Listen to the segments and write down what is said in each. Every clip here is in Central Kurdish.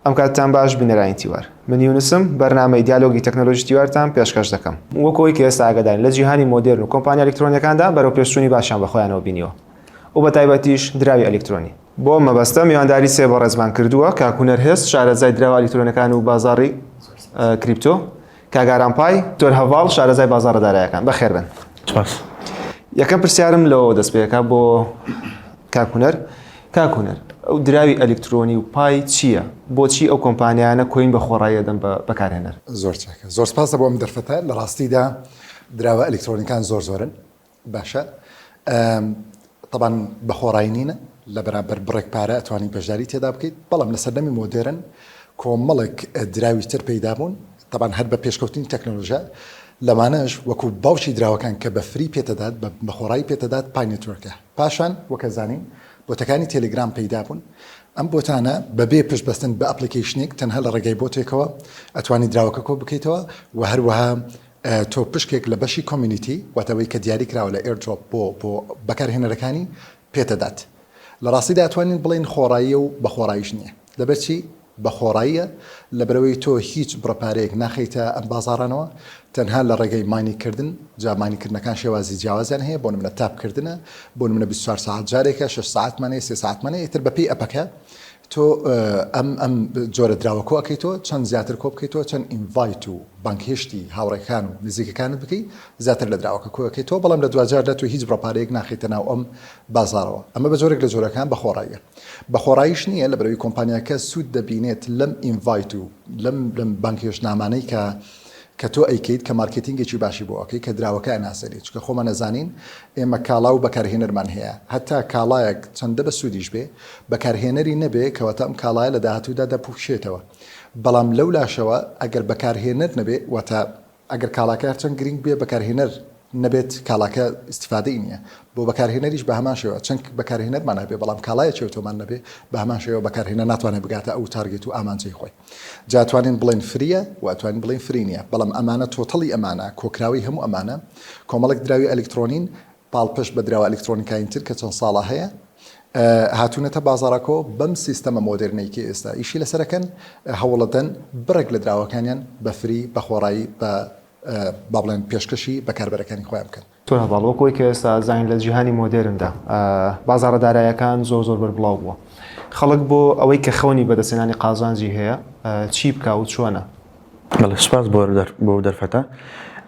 ئەم کاتتان باش بینەرانی تیوار من یونسم بەرنامەی دیالۆگی تەکنەلۆژی تیوارتان پێشکەش دەکەم وەک ئەوەی کە ئێستا ئاگادارین لە جیهانی مۆدێرن و کۆمپانیا ئەلیکترۆنیەکاندا بەرەو پێشچوونی باشیان بە خۆیانەوە بینیوە و بە تایبەتیش دراوی ئەلیکترۆنی بۆ ئەم مەبەستە میوانداری سێ بەڕێزمان کردووە کاک هونەر هێز شارەزای دراوە ئەلیکترۆنیەکان و بازاڕی کریپتۆ کاک ئارام پای تۆر هەڤاڵ شارەزای بازاڕە دارایەکان بەخێر بن سپاس یەکەم پرسیارم لەوە دەست پێەکە بۆ کاکوونەر کاکوونەر ئەو دراوی ئەلکترۆنی و پای چییە بۆچی ئەو کۆمپانیانە کۆین بە خۆڕایە دەم بە بەکارهێنەر زۆر چاکە زۆر سپاسە بۆ ئەم دەرفەتە لە ڕاستیدا دراوە ئەلکترۆنیکان زۆر زۆرن باشە تەبان بە خۆڕای نینە لە بەرامبەر بڕێک پارە ئەتوانی بەشداری تێدا بکەیت بەڵام لە سەردەمی مۆدێرن کۆمەڵێک دراوی تر پەیدا بوون تەبان هەر بە پێشکەوتنی تەکنۆلۆژە لەمانەش وەکو باوکی دراوەکان کە بە فری پێتەدات بە خۆڕایی پێتەدات پای نێتوەرکە پاشان وەکە زانین بۆتەکانی تەلگرام پەیدا بوون ئەم بۆتانە بەبێ پشت بەستن بە ئەپلیکیشنێک تەنها لە ڕێگای بۆتێکەوە ئەتوانی دراوەکە کۆ بکەیتەوە و هەروەها تۆ پشکێک لە بەشی کۆمیونیتی، واتە ئەوەی کە دیاری کراوە لە ئێردرۆپ بۆ بۆ بەکارهێنەرەکانی، پێتدات. لە ڕاستیدا ئەتوانین بڵێین خۆڕاییە و بە خۆڕاییش نییە. لەبەرچی بە خۆڕاییە؟ لەبەرئەوەی تۆ هیچ بڕە پارەیەک ناخەیتە ئەم بازاڕانەوە، تەنها لە ڕێگەی ماینینگ کردن، جا ماینینگ کردنەکان شێوازی جیاوازیان هەیە، بۆ نمونە تاپ کردنە، بۆ نمونە بیست و چوار سەعات جارێکە، شەش سەعاتمان هەیە، سێ سەعاتمان هەیە، ئیتر بەپێی ئەپەکە تۆ ئەم ئەم جۆرە دراوە کۆ ئەکەیتەوە چەند زیاتر کۆ بکەیتەوە چەند ئینڤایت و بانگهێشتی هاوڕێکان و نزیکەکانت بکەی زیاتر لە دراوەکە کۆ ئەکەیتەوە بەڵام لە دواجاردا تۆ هیچ بڕە پارەیەک ناخەیتە ناو ئەم بازاڕەوە ئەمە بە جۆرێک لە جۆرەکان بە خۆڕاییە بە خۆڕاییش نییە لەبەرەوەی کۆمپانیاکە سوود دەبینێت لەم ئینڤایت و لەم لەم بانگهێشتنامانەی کە کە تۆ ئەیکەیت کە مارکێتینگێکی باشی بۆ ئەکەی کە دراوەکە ئەناسێنیت چونکە خۆمان ئەزانین ئێمە کاڵا و بەکارهێنەرمان هەیە هەتا کاڵایەک چەندە بەسوودیش بێ بەکارهێنەری نەبێ کەواتە ئەم کاڵایە لە داهاتوودا دەپووکشێتەوە بەڵام لەو لاشەوە ئەگەر بەکارهێنەر نەبێ واتە ئەگەر کاڵاکە هەرچەند گرینگ بێ بەکارهێنەر نەبێت کاڵاکە ئیستیفادەی نییە بۆ بەکارهێنەریش بە هەمان شێوە چەنک بەکارهێنەرمان هەبێ بەڵام کاڵایە چێوتۆمان نەبێ بە هەمان شێوە بەکارهێنەر ناتوانێت بگاتە ئەو تارگێت و ئامانجەی خۆی جا توانین بڵێن فریە و ئەتوانین بڵێن فری نییە بەڵام ئەمانە تۆتەڵی ئەمانە کۆکراوی هەموو ئەمانە کۆمەڵێک دراوی ئەلیکترۆنین پاڵپشت بە دراوە ئەلیکترۆنیکاین تر کە چەند ساڵە هەیە هاتوونەتە بازاڕاکۆ بەم سیستەمە مۆدررنێکی ئێستا ئیشی لەسەرەکەن هەوڵەدەن بڕێک لە دراوەکانیان بەفری بەخۆڕایی بە با بڵێن پێشکەشی بەکاربەرەکانی خۆیان بکەن. تۆ هەڤاڵ وەک ئەوەی کە ئێستا ئەزانین لە جیهانی مۆدێرندا بازاڕە دارایەکان زۆر زۆر بەربڵاو بووە خەڵک بۆ ئەوەی کە خەونی بەدەستێنانی قازانجی هەیە چی بکە و چۆنە بەڵێ سپاس بۆ بۆ دەرفەتە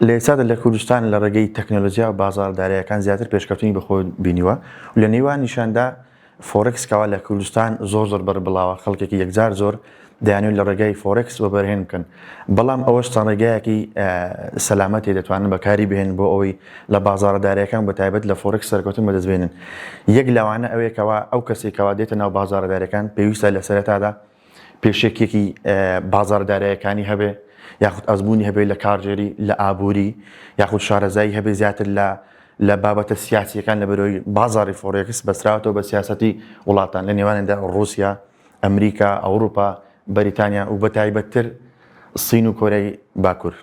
لە ئێستادا لە کوردستان لە ڕێگەی تەکنەلۆژیا و بازاڕدارایەکان زیاتر پێشکەوتنی بەخۆ بینیوە و لە نێوان نیشاندا فۆرێکس کەوا لە کوردستان زۆر زۆر بەربڵاوە خەڵکێکی یەکجار زۆر دەیانوێت لە ڕێگای فۆرێکس وەبەرهێن بکەن بەڵام ئەوەش چەند ڕێگایەکی سەلامەتی دەتوانن بەکاری بهێن بۆ ئەوەی لە بازارە دارەکان بە تایبەت لە فۆرێکس سەرکەوتن بەدەست بێنن یەک لەوانە ئەوێکەوە ئەو کەسێکەوە دێتە ناو بازارە دارەکان پێویستە لە سەرەتادا پێشەکیەکی بازاڕە دارایەکانی هەبێ یاخود ئەزمونی هەبێت لە کارژێری لە ئابووری یاخود شارەزایی هەبێ زیاتر لە لە بابەتە سیاسیەکان لە بەرەوەی بازاری فۆڕێکس بەسراوەوە بە سیاستی وڵاتان لە نێوانێندا ڕوسیا ئەمریکا ئەوروپا بەریتانیا و بە تایبەتتر سین و کۆرەی باکوور.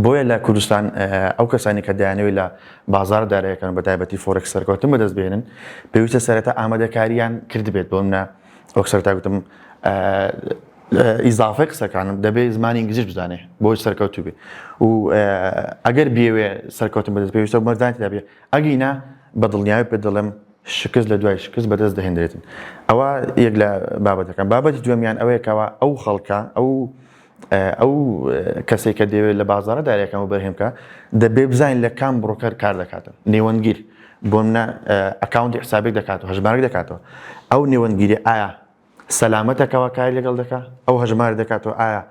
بۆیە لە کوردستان ئەو کەسانی کە دەیانەوێت لە بازار دارایەکان بە تایبەتی فۆرێک سەرکەوتن بەدەست بێنن پێویستە سەرەتا ئامادەکاریان کردبێت بۆ منە وەک سەرتا گوتم ئیزافی قسەکانم دەبێت زمانی ئینگلیزیش بزانێ بۆی سەرکەوتو بێ و ئەگەر بێوێ سەرکەوتن بەدەست پێویستە مەردانت دەبێ ئەگینا بە دڵنیاوی پێ دەڵێم شکست لە دوای شکست بەدەست دەهێنرێتن ئەوە یەک لە بابەتەکان بابەتی دوێمیان ئەوەیەکەوە ئەو خەڵکە ئەو ئەو کەسێک کە دەیەوێت لە بازارە دارەکان و بەرهێم بکە دەبێ بزانین لە کام بڕۆکەر کار دەکاتن نێوەندگیر بۆ منە ئەکاونتی حسابێک دەکات و هەژمارک دەکاتەوە ئەو نێوەندگیری ئایا سەلامەتەکەەوە کاری لەگەڵ دەکات ئەو هەژمار دەکاتەوە ئایا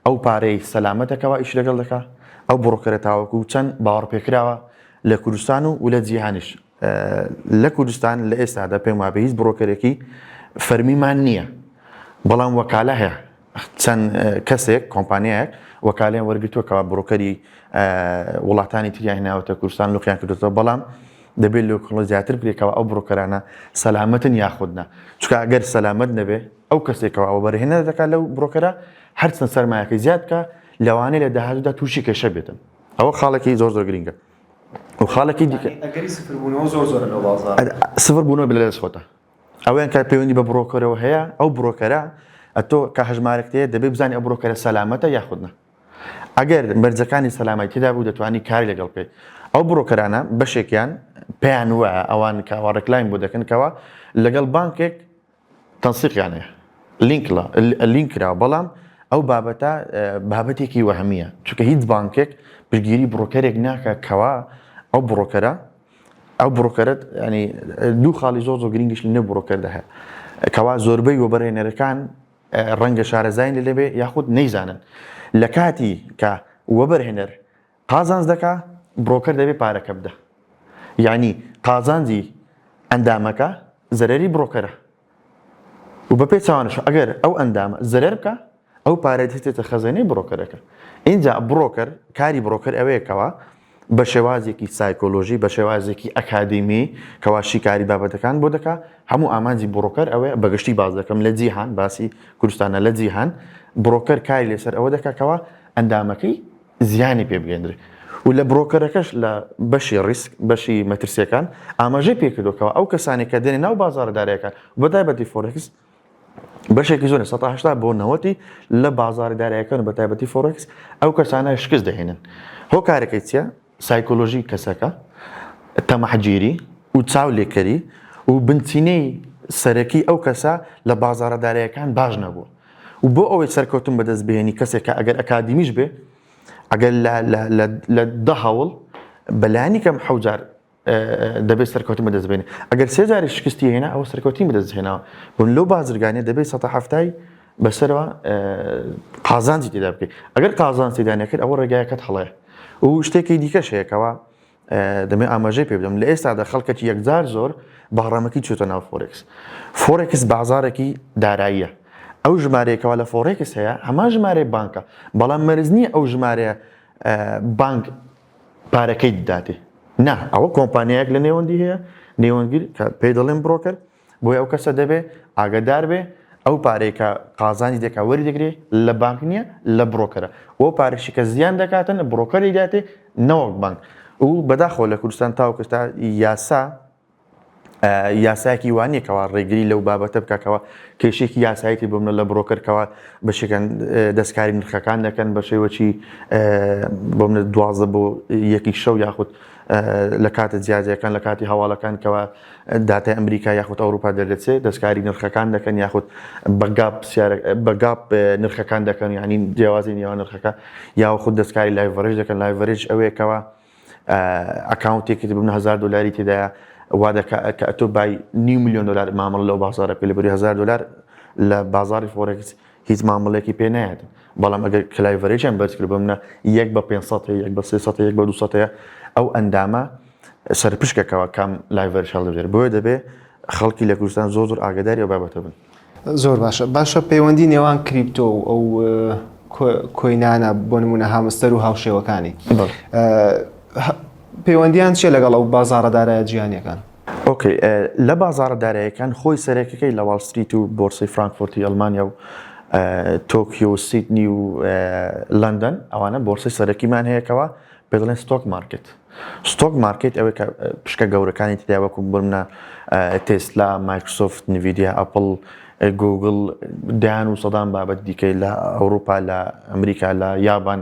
ئەو پارەی سەلامەتەکەەوە ئیش لەگەڵ دەکات ئەو بڕۆکەرە تاوەکو چەند باوەڕپێکراوە لە کوردستان و و لە جیهانیش لە کوردستان لە ئێستادا پێم وابێ هیچ بڕۆکەرێکی فەرمیمان نییە بەڵام وەکالە هەیە چەند کەسێک، کۆمپانیایەک وەکالەیان وەرگرتووە کەوا بڕۆکەری وڵاتانی تریان هێناوەتە کوردستان لقیان کردۆتەوە بەڵام دەبێت لۆ کڵۆ زیاتر بکەوە ئەو بڕۆکەرانە سەلامەتن یاخودنا چکە ئەگەر سەلامەت نەبێ ئەو کەسێکەوە ئەو بەرهێنەر دەکات لەو بڕۆکەرە هەرچەند سەرمایەکە زیاد بکە لەوانەیە لە داهاتوودا تووشی کێشە بێتن ئەوە خاڵێکی زۆر زۆر گرنگە و خاڵێکی دیکە سفر بوونەوە بلە لەش خۆتە ئەوەیان کە پەیوەندی بە بڕۆکەرەوە هەیە، ئەو بڕۆکەرە ئەتۆ کە هەژمارەکەت هەیە دەبێت بزانی ئەو بڕۆکەرە سەلامەتە یاخود نا. ئەگەر مەرجەکانی سەلامەتی تێدا بوو دەتوانی کاری لەگەڵ بکەیت. ئەو بڕۆکەرانە بەشێکیان پێیان وایە ئەوان کە ئەوە ڕێکلامی بۆ دەکەن کەوا لەگەڵ بانکێک تەنسیقیان هەیە، لینک ڵە، لینک کراوە، بەڵام ئەو بابەتە بابەتێکی وەهمییە، چونکە هیچ بانکێک پشتگیری بڕۆکەرێک ناکات کەوا ئەو بڕۆکەرە ئەو بڕۆکەرت ینی دوو خاڵی زۆر زۆر گرنگیش لە نێو بڕۆکەردا هەیە کەوا زۆربەی وەبەرێنەرەکان ڕەنگە شارەزای لە لەبێ یاخود نەیزانن لە کاتی کە وەبەرهێنەر قازانج دەکا بڕۆکەر دەبێ پارەکە بدە یعنی قازانجی ئەندامەکە زەرری بڕۆکەرە و بە پێی چاوانش ئەگەر ئەو ئەندامە زەرەر بکا ئەو پارەی دەچێتە خەزێنەی بڕۆکەرەکە ئینجا بڕۆکەر کاری بڕۆکەر ئەوەیە کەوا بە شێوازێکی سایکۆلۆژی بە شێوازێکی ئەکادیمی کەوا شیکاری بابەتەکان بۆ دەکا هەموو ئامانجی بڕۆکەر ئەوەیە بەگشتی باز دەکەم لە جیهان باسی کوردستانە لە جیهان بڕۆکەر کاری لەسەر ئەوە دەکا کەوا ئەندامەکەی زیانی پێ بگەیەندرێت و لە برۆکەرەکەش لە بەشی ڕیسک بەشی مەترسیەکان ئاماژەی پێکردوەکەەوە ئەو کەسانی کە دێنێ ناو بازارە دارایەکان بەتایبەتی فۆرکس بەشێکی زۆر سەهشتا بۆ نەوەتی لە بازاری دارایەکان بە تایبەتی فۆرکس ئەو کەسانە شکست دەهێنن هۆکارەکەی چیە سایکۆلۆژی کەسەکە تەمەحگیری و چاو لێکەری و بنچینەی سەرەکی ئەو کەسە لە بازارە دارایەکان باش نەبوو و بۆ ئەوەی سەرکەوتن بەدەست بێنی کەسێکە ئەگەر ئەکادیمیش بێ ئەگەر لە دە هەوڵ بەلانی کەم حەوجار دەبێت سەرکەوتن بەدەست بێنێ ئەگەر سێجاری شکستی هێنا ئەوە سەرکەوتی بەدەست هێناوە بن لەو بازرگانە دەبێت سە هەفتای بەسەرەوە قازانجی تێدا بکەیت ئەگەر قازان سیدانەکرد ئەوە ڕێگایەکەت هەڵەیە و شتێکی دیکە شەیەکەوە دەمێ ئاماژەی پێ بدەم لە ئێستادا خەڵکەکی یەکجار زۆر بەهڕەمەکی چێتە ناو فۆرێکس فۆرێکس بازارێکی داراییە ئەو ژمارەیەکەوە لە فۆرێکس هەیە هەمان ژمارەی بانکە بەڵام مەرز نییە ئەو ژمارەیە بانک پارەکەی دادێ نا ئەوە کۆمپانیایەک لە نێوەندی هەیە نێوەندگیر پێی دەڵێن برۆکەر بۆیە ئەو کەسە دەبێ ئاگەدار بێ ئەو پارەی کە قازانی دەکا وەری دەگرێ لە بانک نییە لە بڕۆکەرە ئەو پارشی کە زیان دەکاتن لە بڕۆکەری داتێ نەوەک بانک و بەداخۆ لە کوردستان تاوکستا یاسا یاسایەکی وانە کەوا ڕێگری لەو بابەتە بکەکەەوە کێشێکی یاسایەتی بۆ منە لە بڕۆکەرکەوە بە شکەن دەستکاری نرخەکان دەکەن بە شێوەچی بۆ منە دوازە بۆ یەکی شەو یاخود لە کاتە جیاجەکان لە کاتی هەواڵەکان کەەوە داتای ئەمریکا یاخود ئەوروپا دەردەچێت دەستکاری نرخەکان دەکەن یاخود بە گاپ پرسیارە بە گاپ نرخەکان دەکەن یعنی جیاوازی نێوان نرخەکە یاخود دەستکاری لایڤەرێژ دەکەن لایڤەرێژ ئەوەیەکەوە ئەکاونتێکت ببنە هزار دلاری تێدایە وا دەکە کە ئەتۆ بای نیو میلیۆن دلار مامەڵە لەو بازارە پێ لەبری هزار دلار لە بازاری فۆرێکس هیچ مامەڵەیەکی پێ نایەت بەڵام ئەگەر کلایڤەرێکیان بەرزکرد بمنە یەک بە 500 یەک بە 300 یەک بە 200 ئەو ئەندامە سەرپشکەکەەوە کام لایڤەر هەڵدەێت بۆیە دەبێ خەڵکی لە کوردستان زۆ زۆر ئاگداری ئەو بابەتە بن زۆر باشە باشە پەیوەندی نێوان کریپتۆ و ئەو کۆینانە بۆ نمونە هامستەر و هاوشێوەکانی پەیوەندیان چێ لەگەڵ ئەو بازارەدارایە جیانەکان ئۆکەی لە بازاڕە داراییەکان خۆی سەرەکەکەی لە واڵ ستریت و بۆرسەی فرانکفۆرتی ئەڵمانیا و تۆکیۆ و سیدنی و لەندەن ئەوانە بۆرسەی سەرەکیمان هەیە کەوا پێ دەڵێن ستۆک مارکت ستۆک مارکت ئەوەی کە پشکە گەورەکانی تیا وەکو بمنە تێسلا مایکرسۆفت نڤیدیا ئەپل گوگل دان و سەدان بابەت دیکەی لە ئەوروپا لە ئەمریکا لە یابان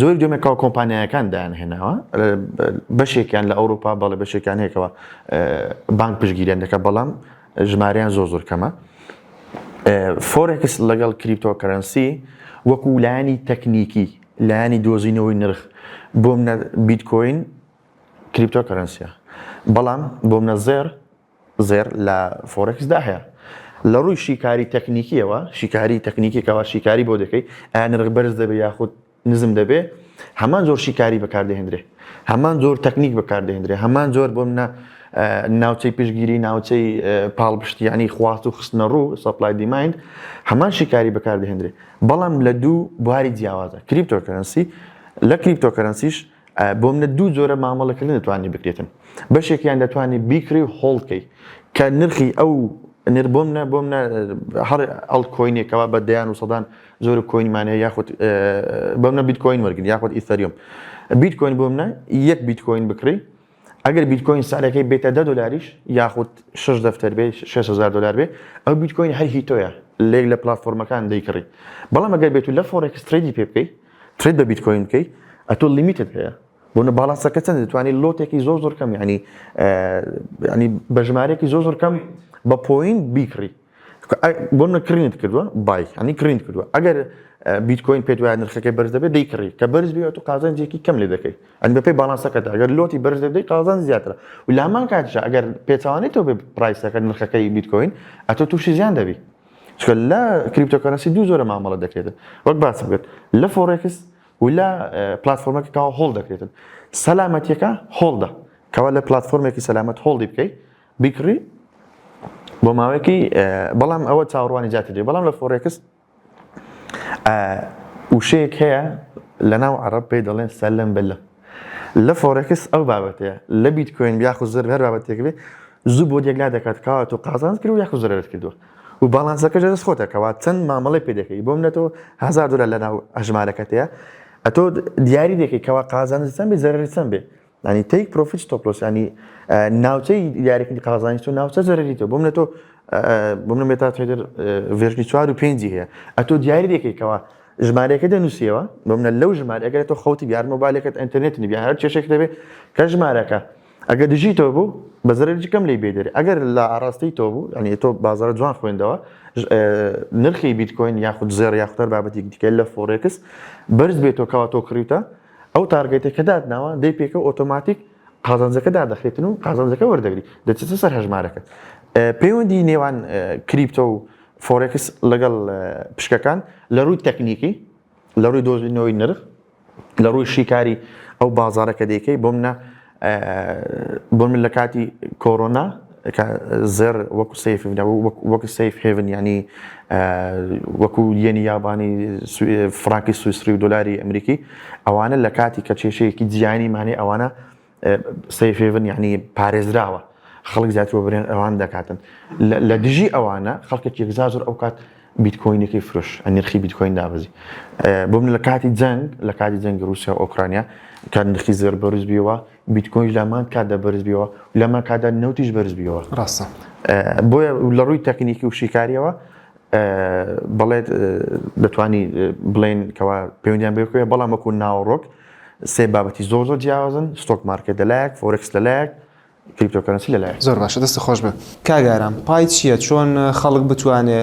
جۆری دوێمێ کاو کۆمپانیایەکان دایان هێناوە بەشێکیان لە ئەوروپا بەڵێ بەشێکیان هێکەوە بانک پشگیریان دەکە بەڵام ژماریان زۆر زۆر کەمە فۆرکس لەگەڵ کریپتۆکەرەنسی وەکو لایانی تەکنیکی لایانی دۆزینەوەی نرخ بۆم بیتکۆین کریپتۆکەرەنسیە بەڵام بۆم نەزێر زێڕ لە فۆرێکس دا هەیە لە ڕووی شیکاری تەکنیکیەوە شیکاری تەکنیکێکەوە شیکاری بۆ دەکەیت ئایا نرخ بەرز دەبێت یاخود نزم دەبێ هەمان زۆر شیکاری بەکاردەهێنرێ هەمان زۆر تەکنیک بەکاردەهێنرێ هەمان زۆر بۆ منە ناوچەی پشگیری ناوچەی پاڵپشتیانی خواست و خستنە ڕوو سەپلای دیماین هەمان شیکاری بەکاردەهێنرێ بەڵام لە دوو بواری جیاوازە کریپتۆکەرەنسی لە کریپتۆکەرەنسیش بۆ منە دوو جۆرە مامەڵەکردن دەتوانانی بکرێتن بەشێکیان دەتوانانی بیکری و هۆڵ بکەی کە نرخی ئەو نر بۆ منە بۆ منە هەر ئەڵ کۆینێکەوە بە دەیان و سەدان جۆر کۆینمانە یاخود بە منە بیت کۆین وەرگن یاخود ئیسەریۆم بیت کۆین بۆ منە یەک بیت کۆین بکری ئەگەر بیتکۆین سعرەکەی بێتە دە دۆلاریش یاخود شەش دەفتەر بێ شەش هەزار دۆلار بێ ئەو بیتکۆین هەر هی تۆیە لێک لە پلاتفۆرمەکان دەیکڕی بەڵام ئەگەر بێت و لە فۆرێکس ترێدی پێ بکەی ترێد بە بیتکۆین بکەی ئەتۆ لیمیتت هەیە بۆ نە باڵانسەکە چەند دەتوانانی لۆتێکی زۆر زۆر کەم ینی ینی بە ژمارێکی زۆر زۆر کەم بە پۆین بیکڕی بۆ منە کڕینت کردووە بای هەنی کڕینت کردووە ئەگەر بیتکۆین پێت وایە نرخەکەی بەرز دەبێت دەیکڕی کە بەرز بێت تو قازانجێکی کەم لێ دەکەیت ئەن بەپی باڵانسەکەدا ئەگەر لۆتی بەرز دەدەی قازان زیاترە و لامان کاتشە ئەگەر پێچوانێت تۆ بێ پرایسەکە نرخەکەی بیتکۆین ئەتۆ تووشی زیان دەبی چکە لە کریپتۆکەنەسی دوو زۆرە مامەڵە دەکرێتن وەک باس بێت لە فۆڕێکس و لە پلتفۆرمەکە کاوە هۆڵ دەکرێتن سەلامەتیەکە هۆڵدە کەوا لە پلتفۆرمێکی سەلامەت هۆڵدی بکەیت بیکڕی بۆ ماوەیەکی بەڵام ئەوە چاوەڕوانی جاتی دێ بەڵام لە فۆرێکس وشەیەک هەیە لە ناو عرب پێی دەڵێن سەلم بلە لە فۆرەکس ئەو بابەتەیە لە بیت کوێن یاخو زر هەر بابەتێک بێ زوو بۆ دێکلا دەکات کاوات و قازانز کرد و یاخو زرەت کردووە و باڵانسەکە دەست خۆتەکەوات چەند مامەڵی پێ دەکەی بۆم نەتەوە هزار دلار لە ناو ئەژمارەکەتەیە ئەتۆ دیاری دەکەی کەوا قازانزسەم بێ زەرسەم بێ ینی تەیک پرۆفیت ستۆپلۆس ینی ناوچەی دیارەکردنی قازانانی تۆ ناوچە زەرری تۆ بۆم لە تۆ بۆم لە مێتا تێدر ڤێژنی چوار و پێنجی هەیە ئەتۆ دیاری دەکەیتەوە ژمارەکە دەنووسیەوە بۆ منە لەو ژمارەگە تۆ خەوتی بیار مۆبایلەکەت ئەتەرنێت نبیان هەر چێشێک دەبێت کە ژمارەکە ئەگەر دژی تۆ بوو بەزەرجی کەم لی بێدەێت ئەگەر لە ئاڕاستی تۆ بوو ئەنی تۆ بازار جوان خوێندەوە نرخی بیتکۆین یاخود زێر یاختەر بابەتی دیکە لە فۆرێکس بەرز بێتەوە کەوا تۆ کڕیتە ئەو تارگێتەی کە داتناوە دەی پێکەوە ئۆتۆماتیک قازانجەکە دادەخرێتن و قازانجەکە وەردەگری دەچێتە سەر هەژمارەکە پەیوەندی نێوان کریپتۆ و فۆرێکس لەگەڵ پشکەکان لە ڕووی تەکنیکی لە ڕووی دۆزینەوەی نرخ لە ڕووی شیکاری ئەو بازارەکە دەیکەی بۆ منە بۆ من لە کاتی کۆرۆنا کە زێڕ وەکو سەیف وەکو سەیف هێڤن یعنی وەکو یەنی یابانی فراکی سویسری و دلاری ئەمریکی ئەوانە لە کاتی کە کێشەیەکی جیانی مانێ ئەوانە سەیف هێڤن یعنی پارێزراوە خەڵک زیاتر بۆ برێن ئەوان دەکاتن لە دژی ئەوانە خەڵکێک یەکزار زۆر ئەو کات بیتکۆینەکەی فرۆش نرخی بیتکۆین دابەزی بۆ من لە کاتی جەنگ لە کاتی جەنگی رووسیا و ئۆکرانیا کە نرخی زێر بەرز بیەوە بیتکۆین لەمان کاتدا بەرز بیەوە لەمان کادا نەوتیش بەرز بیەوە ڕاستە بۆیە لە ڕووی تەکنیکی و شیکاریەوە بڵێت دەتوانی بڵێن کەوا پەیوەندیان بێکوێ بەڵام وەکو ناوەڕۆک سێ بابەتی زۆر زۆر جیاوازن ستۆک مارکێت لەلایەک فۆرکس لەلایەک کریپتۆکەرەنسی لەلایە. زۆر باشە دەست خۆش بێ. کاک ئارام پای چیە چۆن خەڵک بتوانێ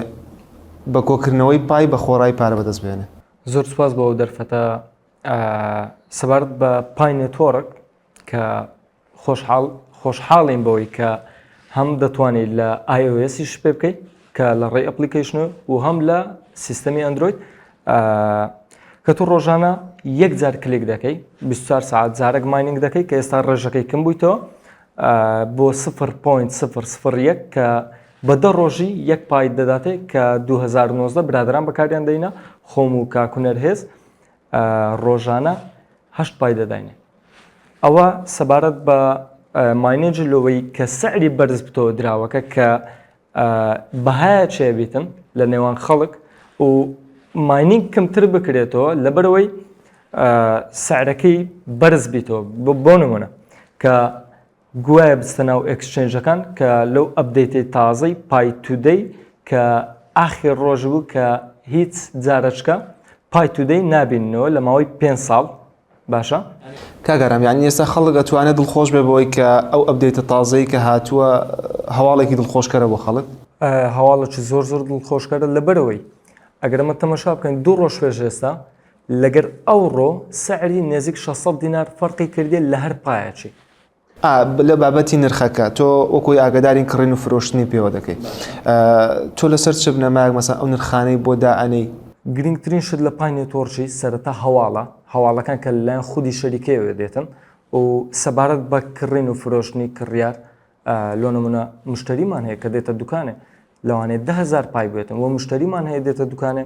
بە کۆکردنەوەی پای بە خۆڕای پارە بەدەست بێنێ؟ زۆر سوپاس بۆ ئەو دەرفەتە سەبارەت بە پای نێتۆرک کە خۆشحاڵ خۆشحاڵین بەوەی کە هەم دەتوانیت لە ئایۆسیش پێ بکەیت کە لە ڕێی ئەپلیکیشن و هەم لە سیستەمی ئەندروید کە تو ڕۆژانە یەک جار کلێک دەکەی 24 ساعت جارێک مایننگ دەکەی کە ئێستا ڕێژەکەی کم بوویتەوە بۆ 0.001 کە بە دە ڕۆژی یەک پایت دەداتێ کە 2019 برادران بەکاریان دەینە خۆم و کاکوونەر هێز ڕۆژانە هەشت پای دەداینێ ئەوە سەبارەت بە ماینێجی لەوەی کە سەعری بەرز بتەوە دراوەکە کە بەهایە چێ بیتن لە نێوان خەڵک و ماینینگ کەمتر بکرێتەوە لەبەرەوەی سعرەکەی بەرز بیتەوە بۆ نمونە کە گوایە بستە ناو ئەکسچێنجەکان کە لەو ئەبدەیتی تازەی پای تودەی کە ئاخی ڕۆژ بوو کە هیچ جارەچکە پای تودەی نبینەوە لە ماوەی پێ ساڵ باشە کاک ئارام یعنی ئێستا خەڵک ئەتوانێت دڵخۆش بێ بۆی کە ئەو ئەبدەیتە تازەی کە هاتووە هەواڵێکی دڵخۆشکەرە بۆ خەڵک هەواڵێکی زۆر زۆر دڵخۆشکەرە لەبەرەوەی ئەگەرمە تەمەشا بکەین دوو ڕۆژ پێش ئێستا لەگەر ئەوڕۆ سعری نێزیک 600 دینار فەرقی کردێت لە هەر پایەکی ئا لە بابەتی نرخەکە تۆ وەکۆی ئاگدارین کڕین و فرۆشتنی پێوە دەکەی تۆ لەسەر چ بنەماک مەسە ئەو نرخانەی بۆ دائەنەی گرنگترین شت لە پای نێتۆرکی سەرەتا هەواڵە هەواڵەکان کە لەلایەن خودی شەریکەیەوە دێتن و سەبارەت بە کڕین و فرۆشتنی کڕیار لۆ نمونە مشتەریمان هەیە کە دێتە دوکانێ لەوانەیە دە هزار پای بێتن و مشتریمان هەیە دێتە دوکانێ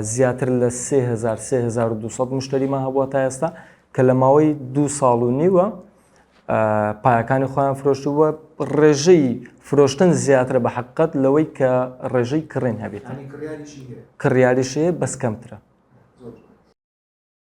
زیاتر لە 3200 مشتریمان هەبووە تا ئێستا کە لە ماوەی دو ساڵ و نیوە پایەکانی خۆیان فرۆشتو بووە ڕێژەی فرۆشتن زیاترە بە حقت لەوەی کە ڕێژەی کڕێن هەبێت کڕیاریشەیە بەس کەمترە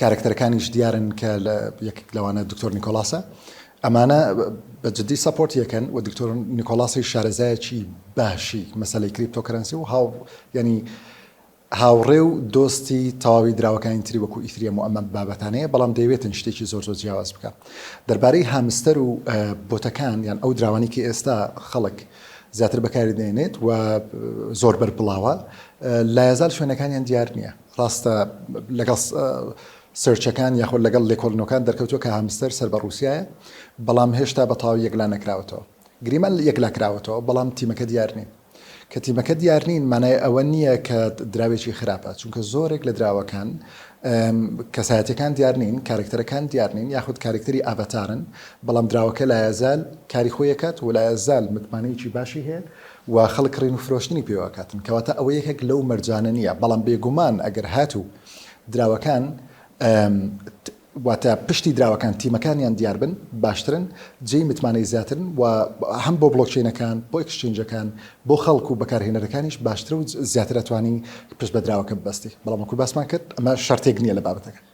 کارەکتەرەکانیش دیارن کە یەکێک لەوانە دکتۆر نیکۆلاسە. ئەمانە بە جدی سەپۆرت یەکەن و دکتۆر نیکۆلاسیش شارەزایەکی باشی مەسەلەی کریپتۆکەرەنسی و هاو یانی هاوڕێ و دۆستی تەواوی دراوەکانی تری وەکو ئیثریەم و ئەمە بابەتانەیە بەڵام دەیەوێتن شتێکی زۆر زۆر جیاواز بکە دەربارەی هامستەر و بۆتەکان یان ئەو دراوانی کە ئێستا خەڵک زیاتر بەکاری دەێنێت و زۆر بەربڵاوە لایەزار شوێنەکانیان دیار نییە ڕاستە لەگەڵ سێرچەکان یاخۆ لەگەڵ لێکۆڵینەوەکان دەرکەوتووە کە هامستەر سەر بە ڕووسیایە، بەڵام هێشتا بە تەواوی یەکلا نەکراوەتەوە. گریمان یەکلا کراوەتەوە، بەڵام تیمەکە دیار نین. کە تیمەکە دیار نین مانای ئەوە نییە کە دراوێکی خراپە، چونکە زۆرێک لە دراوەکان کەسایەتییەکان دیار نین، کارەکتەرەکان دیار نین یاخود کارەکتەری ئاڤاتارن، بەڵام دراوەکە لایەزال کاری خۆی ئەکات و لایەزال متمانەیەکی باشی هەیە. و خەڵک کڕین و فرۆشتنی پێوە ئەکاتن کەواتە ئەوە یەکێک لەو مەرجانە نیە بەڵام بێگومان ئەگەر هاتوو دراوەکان واتە پشتی دراوەکان تیمەکانیان دیاربن باشترن جێی متمانەی زیاترن و هەم بۆ بڵۆکچینەکان بۆ ئەکسچینجەکان بۆ خەڵک و بەکارهێنەرەکانیش باشترە و زیاتر ئەتوانی پشت بە دراوەکە ببەستی بەڵام وەکو باسمان کرد ئەمە شەرتێک نییە لە بابەتەکە.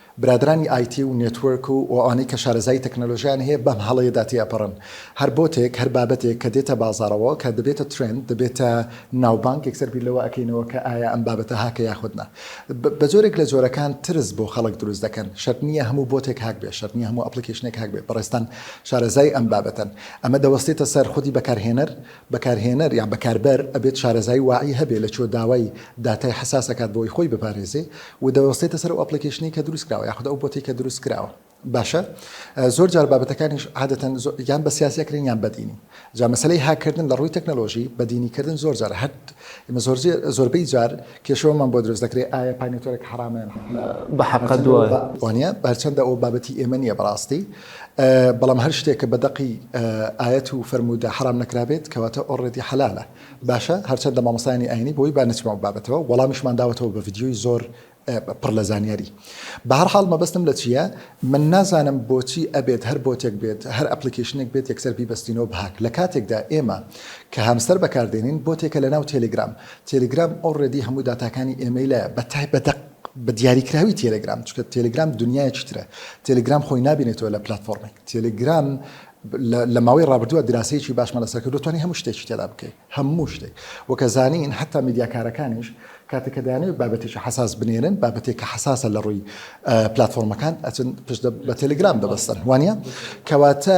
برادەرانی ئایتی و نێتوەرک و ئەوانەی کە شارەزایی تەکنەلۆژیایان هەیە بەم هەڵەیەدا تێئەپەڕن. هەر بۆتێک، هەر بابەتێک کە دێتە بازاڕەوە، کە دەبێتە ترێند، دەبێتە ناوبانگ، یەکسەر بیر لەوە ئەکەینەوە کە ئایا ئەم بابەتە هاکە یاخود نا. بە جۆرێک لە جۆرەکان ترس بۆ خەڵک دروست دەکەن. شەرت نییە هەموو بۆتێک هاک بێت، شەرت نییە هەموو ئەپڵیکەیشنێک هاک بێت. بەڕێزتان شارەزای ئەم بابەتەن. ئەمە دەوەستێتە سەر خودی بەکارهێنەر، بەکارهێنەر یان بەکاربەر ئەبێت شارەزایی واعی هەبێ لە چۆ داوای داتای حەساس ئەکات بۆوەی خۆی بپارێزێ و دەوەستێتە سەر ئەو ئەپڵیکەیشنەی کە دروست کراوە یاخود ئەو بۆتەی کە دروست کراوە باشە زۆر جار بابەتەکانیش عادەتەن یان بە سیاسی ئەکرێن یان بە دینی جا مەسەلەی هاککردن لە ڕووی تەکنەلۆژی بە دینی کردن زۆر جار هەر ئێمە زۆر زۆربەی جار کێشەوەمان بۆ دروست دەکرێت ئایا پانیوتەرێک حەرامە یان بە حەقە دوای وانە بەرچەندە ئەو بابەتی ئێمە نییە بەڕاستی بەڵام هەر شتێک کە بەدەقی ئاەت و فەرمودا حرام نەکرابێت کەواتە ئۆڕێتی حەلالە باشە هەرچەندە مامۆستانی ئاینی بۆی با نچمە بابەتەوە وەڵامیشمان داوەتەوە بە ڤیددیوی زۆر پڕ لە زانیاری بە هەر حاڵ مەبەستم لە چییە من نازانم بۆچی ئەبێت هەر بۆتێک بێت هەر ئەپلیکیشنێک بێت یەکسەر بیبستینەوە بهاک لە کاتێکدا ئێمە کە هەمسەر بەکاردێنین بۆتێکە لە ناو تێلیگرام تێلگرام ئۆ ڕێدی هەموو داتاکانی ئێمەی لایە بە تای بە دەق بە دیاریکراوی تێلگرام چکە تێلگرام دنیایەکی ترە تێلگرام خۆی نابینێتەوە لە پلاتفۆڕمی تێلگرام لە ماوەی ڕابردووە دراسەیەکی باشمان لەسەر کرد توانی هەموو شتێکی تێدا بکەیت هەموو شتێک وەکە زانین هەتا میدیاکارەکانیش کاتێککە دەیانەوێت بابەتێکی حساس بنێرن بابەتێکە حساسە لە ڕووی پلتفۆرمەکان ئەچن پشت بە تەلگرام دەبستن وانە کەواتە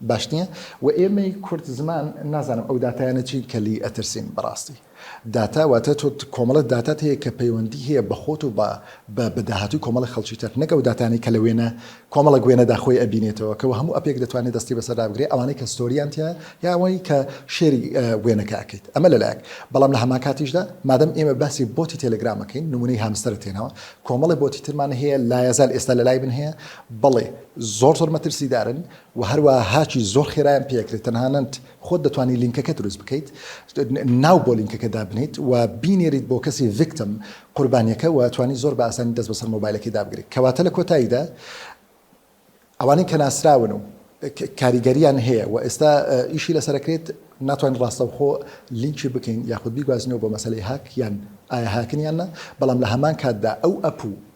باش نیە و ئێمەی کورد زمان نازانم ئەو داتایانە چین کە لێی ئەترسین بەڕاستی داتا واتە تۆ کۆمەڵە داتات هەیە کە پەیوەندی هەیە بە خۆت و بە بە بە داهاتووی کۆمەڵە خەڵکی تر نەک ئەو داتانەی کە لە وێنە کۆمەڵە گوێنەدا خۆی ئەبینێتەوە کە هەموو ئەپێک دەتوانێت دەستی بەسەردا بگرێ ئەوانەی کە ستۆریان تیا یا ئەوەی کە شێری وێنەکە ئەکەیت ئەمە لەلایەک بەڵام لە هەمان کاتیشدا مادەم ئێمە باسی بۆتی تێلگرامەکەین نمونەی هامستەرە تێنەوە کۆمەڵە بۆتی ترمان هەیە لایەزال ئێستا لە لای من هەیە بەڵێ زۆر زۆر مەترسیدارن وە هەروەها هاکی زۆر خێرایان پێ ئەکرێت تەنهانەت خۆت دەتوانی لینکەکە دروست بکەیت ناو بۆ لینکەکە دابنێیت و بینێریت بۆ کەسی ڤیکتم قوربانیەکە وە ئەتوانی زۆر بە ئاسانی دەست بەسەر مۆبایلەکەی دابگریت کەواتە لە کۆتاییدا ئەوانەی کە ناسراون و کاریگەریان هەیە و ئێستا ئیشی لەسەر ئەکرێت ناتوانین ڕاستەوخۆ لینکی بکەین یاخود بیگوازینەوە بۆ مەسەلەی هاک یان ئایا هاکن یان نا بەڵام لە هەمان کاتدا ئەو ئەپ و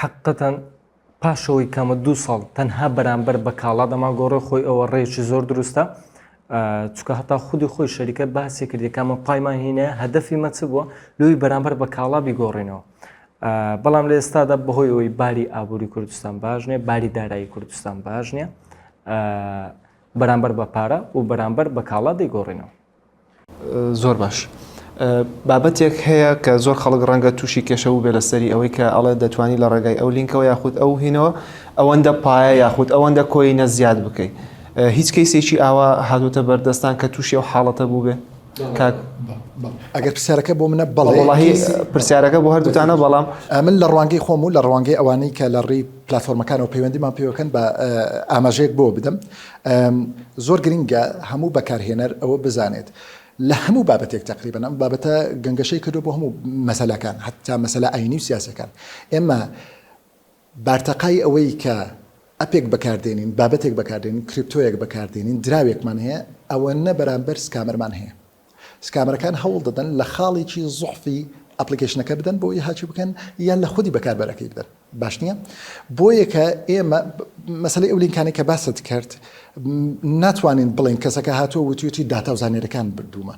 حەققەتەن پاشەوەی کەمە دوو ساڵ تەنها بەرامبەر بە کاڵا دەماگۆڕێ خۆی ئەوە ڕێکی زۆر دروستە چکە هەتا خودی خۆی شەریکەت باسی کردی کامە پایمان هینە هەدەفی مەچ بووە لوی بەرامبەر بە کاڵا بیگۆڕینەوە بەڵام لە ئێستادا بەهۆی ئەوەی باری ئابووری کوردستان باش نیە باری دارایی کوردستان باش نیە بەرامبەر بە پارە و بەرامبەر بە کاڵا دەیگۆڕینەوە زۆر باش. بابەتێک هەیە کە زۆر خەڵک ڕەنگە تووشی کێشە بوو بێ لەسەری ئەوەی کە ئەڵێ دەتوانی لە ڕێگای ئەو لینکەوە یاخود ئەو هینەوە ئەوەندە پایە یاخود ئەوەندە کۆینە زیاد بکەیت هیچ کەیسێکی ئاوا هاتوتە بەردەستان کە تووشی ئەو حاڵەتە بوو بێ ئەگەر پرسیارەکە بۆ منە بەڵی پرسیارەکە بۆ هەردووتانە بەڵام من لە ڕوانگەی خۆم و لە ڕوانگەی ئەوانەی کە لە ڕێی پلتفۆرمەکانەوە پەیوەندیمان پێوەکەن بە ئاماژەیەک بۆ بدەم زۆر گرنگە هەموو بەکارهێنەر ئەوە بزانێت لە هەموو بابەتێک تقریبا ئەم بابەتە گەنگەشەی کردو بۆ هەموو مەسەلەکان حتا مەسەلا ئاینی و سیاسەکان ئێمە بارتەقای ئەوەی کە ئەپێک بەکاردێنین بابەتێک بەکاردێنین کریپتۆیەک بەکاردێنین دراوێکمان هەیە ئەوە نە بەرامبەر سکامەرمان هەیە سکامەرەکان هەوڵ دەدەن لە خاڵێکی زوحفی ئەپڵیکەیشنەکە بدەن بۆ ئەوەی هاکی بکەن یان لە خودی بەکاربەرەکەی بدەن باش نییە بۆیە کە ئێمە مەسلەی ئەو لینکانێک کە باست کرد ناتوانین بڵێن کەسەکە هاتووە وتیوتی داتا و زانێرەکان بردوومە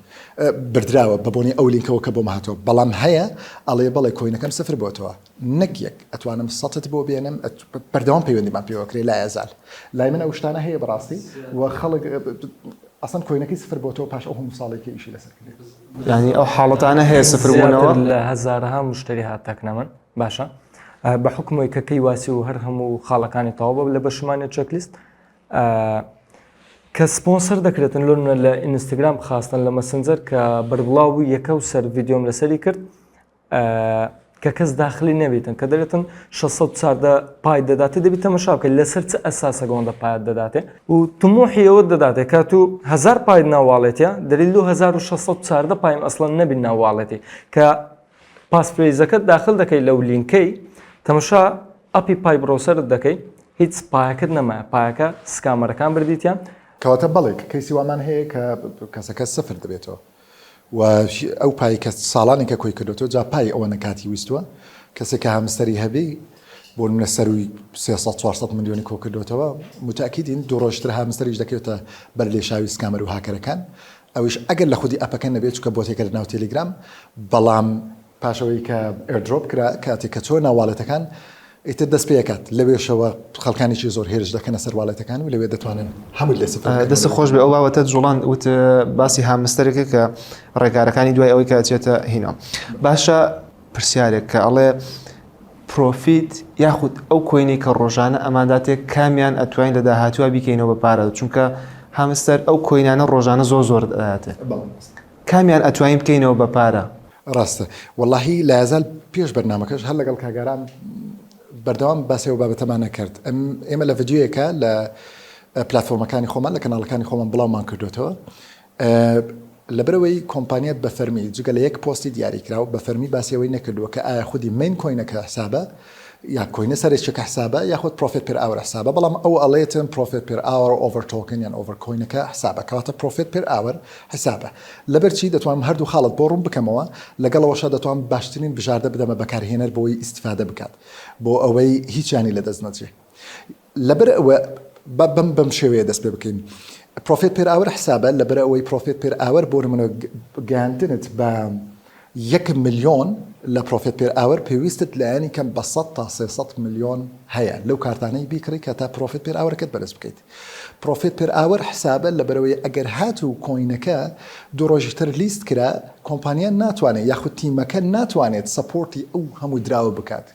بردراوە بە بۆنی ئەو لینکەوە کە بۆم هاتەوە بەڵام هەیە ئەڵێ بەڵێ کۆینەکەم سفر بۆتەوە نەک یەک ئەتوانم سەتت بۆ بێنم بەردەوام پەیوەندیمان پێوەکرێ لا ئەزال لای من ئەو شتانە هەیە بەڕاستی و خەڵک ئەسن کۆینەکەی سفر بۆ تۆ پاش ئەو هەموو ساڵێکی ئیشی لەسەر کرد ینی ئەو حاڵەتانە هەیە سفربوونەوە لە هزارها مشتری هاتەکنە من باشە بە حکمەوەی کە کەی واسی و هەر هەموو خاڵەکانی تەواوە لە بەشمانی چەکلیست کە سپۆنسەر دەکرێتن لۆنە لە ئینستاگرام خاستن لە مەسنجەر کە بەربڵاو بوو یەکە و سەر یددیۆم لەسەری کرد کە کەس داخلی نەبیتن کە دەێتن 600 چاردە پای دەداتێ دەبی تەمەشا بکە لەسەر چ ئەساسە گۆندە پایت دەداتێ و تموحی ئەوە دەداتێ کە تو هزار پای ناواڵێتە دەلیل 1600 چاردە پایم ئەسڵەن نەبی ناواڵێتی کە پاسپێزەکەت داخل دەکەی لەو لینکەی تەمەشا ئەپی پای بڕۆسەرت دەکەی هیچ پایەکەت نەما پایەکە سکامەرەکان بردیتیان کەواتە بەڵێک کەیسی وامان هەیە کە کەسەکە سفر دەبێتەوە و ئەو پای کە ساڵانێکە کۆی کردۆتەوە جا پای ئەوەنە کاتی ویستووە کەسێک کە هامستەری هەبی بۆ منە سەروی 300 میلیۆنی کۆ کردوتەوە متاکیدین دوڕۆشتر هامستەریش دەکەوێتە بەر لێشاوی سکامەر و هاکەرەکان ئەوش ئەگەر لە خودی ئەپەکە نەبێت چکە بۆتێکە لە ناو تێلیگرام بەڵام پاشەوەی کە ئێردرۆپ کرا کاتێک کە چۆنە واڵێتەکان ئیتر دەست پێکات لەوێشەوە خەڵکانێکی زۆر هێرش دەکەنە سەر واڵێتەکان و لەوێ دەتوانن هەموو لێ سفر بکەن. دەست خۆش بێ ئەو باوەتە جوڵان وت باسی هامستەرێکە کە ڕێکارەکانی دوای ئەوەی کە چێتە هینۆم باشە پرسیارێک کە ئەڵێ پرۆفیت یاخود ئەو کۆینەی کە ڕۆژانە ئەماداتێک کامیان ئەتوانین لە داهاتوە بیکەینەوە بە پارە چونکە هامستەر ئەو کۆینانە ڕۆژانە زۆر زۆر ئەداتێ. کامیان ئەتوانین بکەینەوە بە پارە. ڕاستە وەڵاهی لایەزال پێش بەرنامەکەش هەر لەگەڵ کاک ئارام بەردەوام باسی ئەو بابەتەمان ئەکرد ئێمە لە ڤیدیۆیەکە لە پلاتفۆرمەکانی خۆمان لە کەناڵەکانی خۆمان بڵاومان کردوێتەوە لەبەرەوەی کۆمپانیات بە فەرمی جگە لە یەک پۆستی دیاریکراوە بە فەرمی باسیەوەی نەکردووە کە ئایا خودی مین کۆینەکە حسابە یا کۆینە سەرێ چەکە حسابە یاخود پرۆفێت پێر ئاوەر حسابە بەڵام ئەو ئەڵێتن پرۆفێت پێر ئاوەر ئۆڤەر تۆکن یان ئۆڤەر کۆینەکە حسابە کەواتە پرۆفێت پێر ئاوەر حسابە لەبەرچی دەتوانم هەردوو خاڵت بۆ ڕوون بکەمەوە لەگەڵەوەشە دەتوان باشترین بژاردە بدەمە بەکارهێنەر بۆی ئیستیفادە بکات بۆ ئەوەی هیچیانی لەدەست نەچێ لەبەر ئەوە با بەم بەم شێوەیە دەست پێ بکەین. پرۆفێت پێر ئاوەر حسابە لەبەر ئەوەی پرۆفێت پێر ئاوەر بۆ نمونە گەیاندنت بە یەک ملیۆن لە پرۆفێت پێر ئاوەر پێویستت لایەنی کەم بە سەد تا سێ سەد ملیۆن هەیە لەو کارتانەی بیکڕی کە تا پرۆفێت پێر ئاوەرەکەت بەرز بکەیت پرۆفێت پێر ئاوەر حسابە لەبەرەوەی ئەگەر هات و کۆینەکە دوو ڕۆژی تر لیست کرا کۆمپانیا ناتوانێت یاخود تیمەکە ناتوانێت سەپۆرتی ئەو هەموو دراوە بکات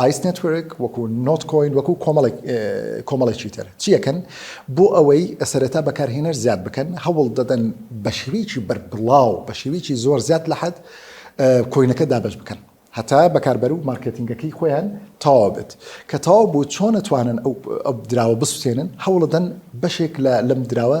ئایس نێتوێرک وەکو نۆت کۆین وەکو کۆمەڵێک کۆمەڵێکی تر چیەکەن بۆ ئەوەی سەرەتا بەکارهێنەر زیاد بکەن هەوڵ دەدەن بە شێوەیەکی بەربڵاو بە شێوەیەکی زۆر زیاد لە حەد کۆینەکە دابەش بکەن هەتا بەکاربەر و مارکێتینگەکەی خۆیان تەواو بێت کە تەواو بوو چۆن ئەتوانن ئەو دراوە بسوتێنن هەوڵدەن بەشێک لە لەم دراوە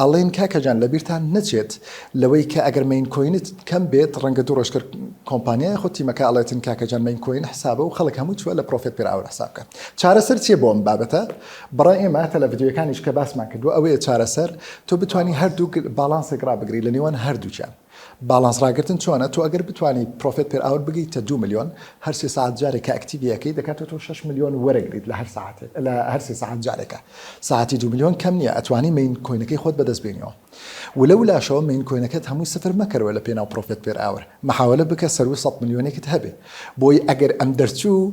ئەڵێن کاکە جان لەبیرتان نەچێت لەوەی کە ئەگەر مەین کۆینت کەم بێت ڕەنگە دوو ڕۆژ کەر کۆمپانیا یاخود تیمەکە ئەڵێتن کاکە جان مەین کۆین حسابە و خەڵک هەموو چوە لە پرۆفێت پێر ئاوەر حساب بکە چارەسەر چیە بۆ ئەم بابەتە بەڕای ئێمە هەتا لە ڤیدیۆیەکانیش کە باسمان کردوە ئەوەیە چارەسەر تۆ بتوانی هەردوو باڵانسێک ڕابگری لە نێوان هەردووکیان باڵانس ڕاگرتن چۆنە تۆ ئەگەر بتوانی پرۆفێت پێر ئاور بگەیتە دوو ملیۆن هەر سێ سەعات جارێک کە ئەکتیڤی ئەکەی دەکاتە تۆ شەش ملیۆن وەرەگریت لە هەر سەعاتێک لە هەر سێ سەعات جارێکە سەعاتی دوو ملیۆن کەم نییە ئەتوانی مین کۆینەکەی خۆت بەدەست بێنیەوە ولە ولاشەوە مین کۆینەکەت هەمووی سفر مەکەرەوە لە پێناو پرۆفێت پێر ئاور مەحاوەلە بکە سەروو سەد ملیۆنێکت هەبێ بۆی ئەگەر ئەم دەرچوو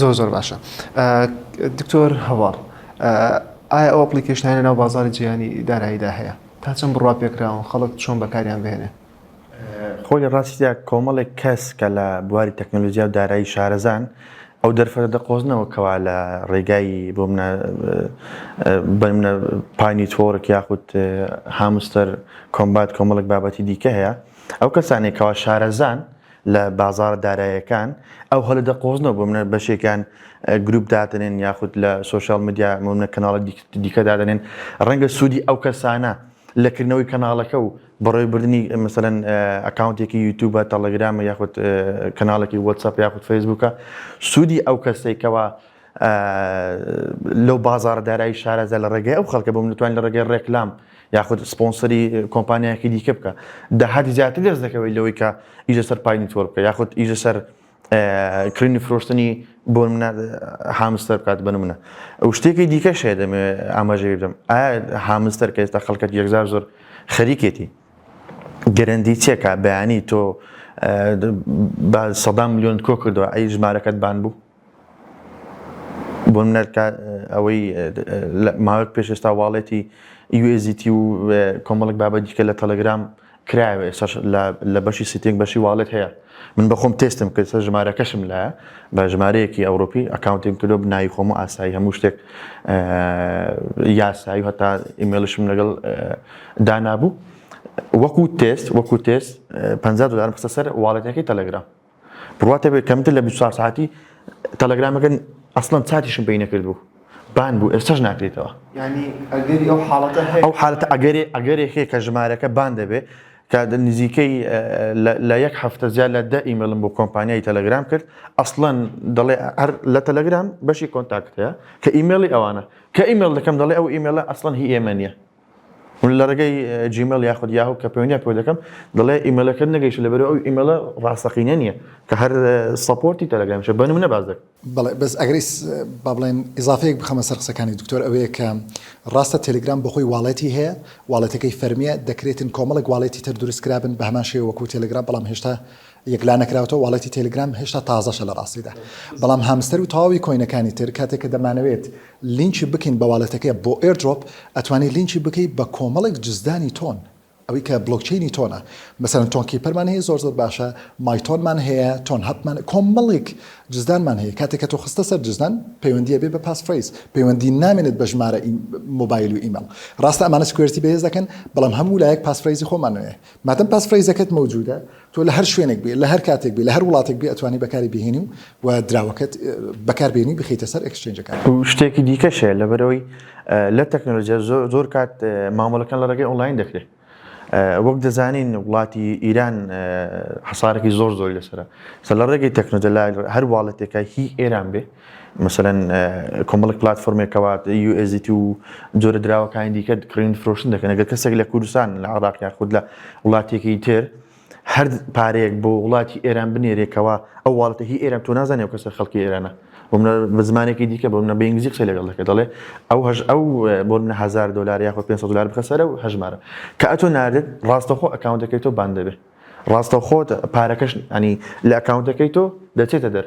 زۆر زۆر باشە دکتۆر هەواڵ ئایا ئەو ئەپلیکیشنانە ناو بازاری جیهانی داراییدا هەیە تا چەند بڕوا پێکراون خەڵک چۆن بەکاریان بێنێ خۆی لە ڕاستیدا کۆمەڵێک کەس کە لە بواری تەکنەلۆژیا و دارایی شارەزان ئەو دەرفەتە دەقۆزنەوە کەوا لە ڕێگای بۆ منە بەمنە پانی تۆرک یاخود هامستەر کۆمبات کۆمەڵک بابەتی دیکە هەیە ئەو کەسانێکەوە شارەزان لە بازاڕە دارایەکان ئەو هەلە دەقۆزنەوە بۆ منە بەشێکیان گروپ دادنێن یاخود لە سوۆشال میدیا منە کەناڵە دیکە دادنێن ڕەنگە سوودی ئەو کەسانە لەکردنەوەی کەناڵەکە و بەڕێ بردننی مەسەەن ئەکاونتێکی یوتوبە تەڵەگرامە یاخود کەناڵێکی وەتسەپ یاخود فەیسبووکە سوودی ئەو کەسێکەوە لەو بازاڕە دارایی شارەزا لە ڕێگەی ئەو خەڵکە بم نتوان لە ڕێگەی ڕێکلام یاخود سپۆنسەری کۆمپانیایەکی دیکە بکە داهاتی زیاتر دەست دەکەوەی لەوەی کە ئیژە سەر پای نیتۆر بکە یاخود ئیژە سەر کرینی فرۆشتنی بۆ منە هامستەر بکات بن منە ئەو شتێکی دیکە شێ دەمێ ئاماژە بدەم ئایا هامستەر کە ئێستا خەڵکەت یەکزار زۆر خەریکێتی گەرەندی چێکا بەیانی تۆ سەدان میلیۆن کۆ کردەوە ئەی ژمارەکەت بان بوو بۆ منەر کە ئەوەی ماوەک پێش ئێستا واڵێتی USDT و کۆمەڵک بابەت دیکە لە تەلەگرام کرایەوە ئێستا لە بەشی سیتنگ بەشی واڵێت هەیە من بەخۆم تێستم کرد سە ژمارەکەشم لە بە ژمارەیەکی ئەوروپی ئەکاونتیم کردو بناوی خۆم و ئاسایی هەموو شتێک یاسایی هەتا ئیمێلشم لەگەڵ دانابوو وەکو تێست وەکو تێست 50 دلارم خستە سەر واڵێتەکەی تەلەگرام بڕوات هەبێت کەمتر لە 24 ساعتی تەلەگرامەکە ئەسڵەن چاتیشم پێی نەکردبوو بان بوو ئێستش ناکرێتەوە ئەو حالەتە ئەگەرێ ئەگەرێکێ کە ژمارەکە بان دەبێت کە نزیکەی لە یەک هەفتە زیاد لە دە ئیمەلم بۆ کۆمپانیای تەلەگرام کرد ئەسڵەن دەڵێ هەر لە تەلەگرام بەشی کۆنتاکتەیە کە ئیممەلی ئەوانە کە ئیممەل دەکەم دەڵێ ئەو ئیممەلە ئەسڵەن هی ئێمە نیە من لە ڕێگەی جیمێڵ یاخود یاهو کە پەیوەندیان پێوە دەکەم دەڵێ ئیمێلەکەت نەگەیشتە لەبەرەوە ئەو ئیمێلە ڕاستەقینە نییە کە هەر سەپۆرتی تەلەگرامیشە بە نموونە باس دەکەم بەڵێ بەس ئەگەر ئیس با بڵێن ئیزافەیەک بخەمە سەر قسەکانی دکتۆر ئەوەیە کە ڕاستە تێلگرام بە خۆی واڵێتی هەیە واڵێتەکەی فەرمیە دەکرێتن کۆمەڵێک واڵێتی تر دروست کرابن بە هەمان شێوە وەکوو تێلگرام بەڵام هێشتا یەکلانەکراوەتەوە واڵێتی تێلگرام هێشتا تازەشە لەڕاستیدا بەڵام هامستەر و تەواوی کۆینەکانی تر کاتێک کە دەمانەوێت لینکی بکەین بە واڵێتەکەی بۆ ئێردرۆپ ئەتوانی لینکی بکەی بە کۆمەڵێک جزدانی تۆن ئەوی کە بڵۆکچەینی تۆنە مەسەرەن تۆن کیپەرمان هەیە زۆر زۆر باشە مایتۆنمان هەیە تۆن هەپمان کۆمەڵێک جزدانمان هەیە کاتێک کە تۆ خستە سەر جزدان پەیوەندیە بێ بە پاس فریز پەیوەندی نامێنێت بە ژمارە مۆبایل و ئیمەڵ ڕاستە ئەمانە سکوێرتی بەهێز دەکەن بەڵام هەموو لایەک پاس فریزی خۆمانەیە مادەم پاسفرەیزەکەت مەوجودە تۆ لە هەر شوێنێک بێ لە هەر کاتێک بێ لە هەر وڵاتێک بێ ئەتوانی بەکاری بهێنی و و دراوەکەت بەکار بێنی بخیتە سەر ئەکسچێنجەکان. شتێکی دیکەش هەیە لەبەرەوەی لە تەکنەلۆجیا زۆر زۆر کات مامەڵەکان لە ڕێگەی ئۆنڵاین دەکرێ. وەک دەزانین وڵاتی ئیران حەسارەکی زۆر زۆری لەسەرە. سە لە ڕێگەی تەکنۆجە لای هەر واڵێتێکای هی ئێران بێ. مەسەلەن کۆمەڵێک پلاتفۆرمێک کەوات USDT و جۆرە دراوەکانی دیکە کڕین فرۆشتن دەکەن ئەگەر کەسێک لە کوردستان لە عراق یاخود لە وڵاتێکی تر هەر پارەیەک بۆ وڵاتی ئێران بنێرێکەوە ئەو واڵەتە هی ئێران تۆ نازانێ و کەسە خەڵکی ئێرانە بۆ منە بە زمانێکی دیکە بۆ منە بە ئینگلیزی قسەی لەگەڵ دەکرد دەڵێ ئەو هەژ ئەو بۆ منە هزار دلار یاخود 500 دلار بخە سەرە و هەژمارە کە ئەتۆ ناردت ڕاستەخۆ ئەکاونتەکەی تۆ باند دەبێ ڕاستەخۆت پارەکەش ئەنی لە ئەکاونتەکەی تۆ دەچێتە دەر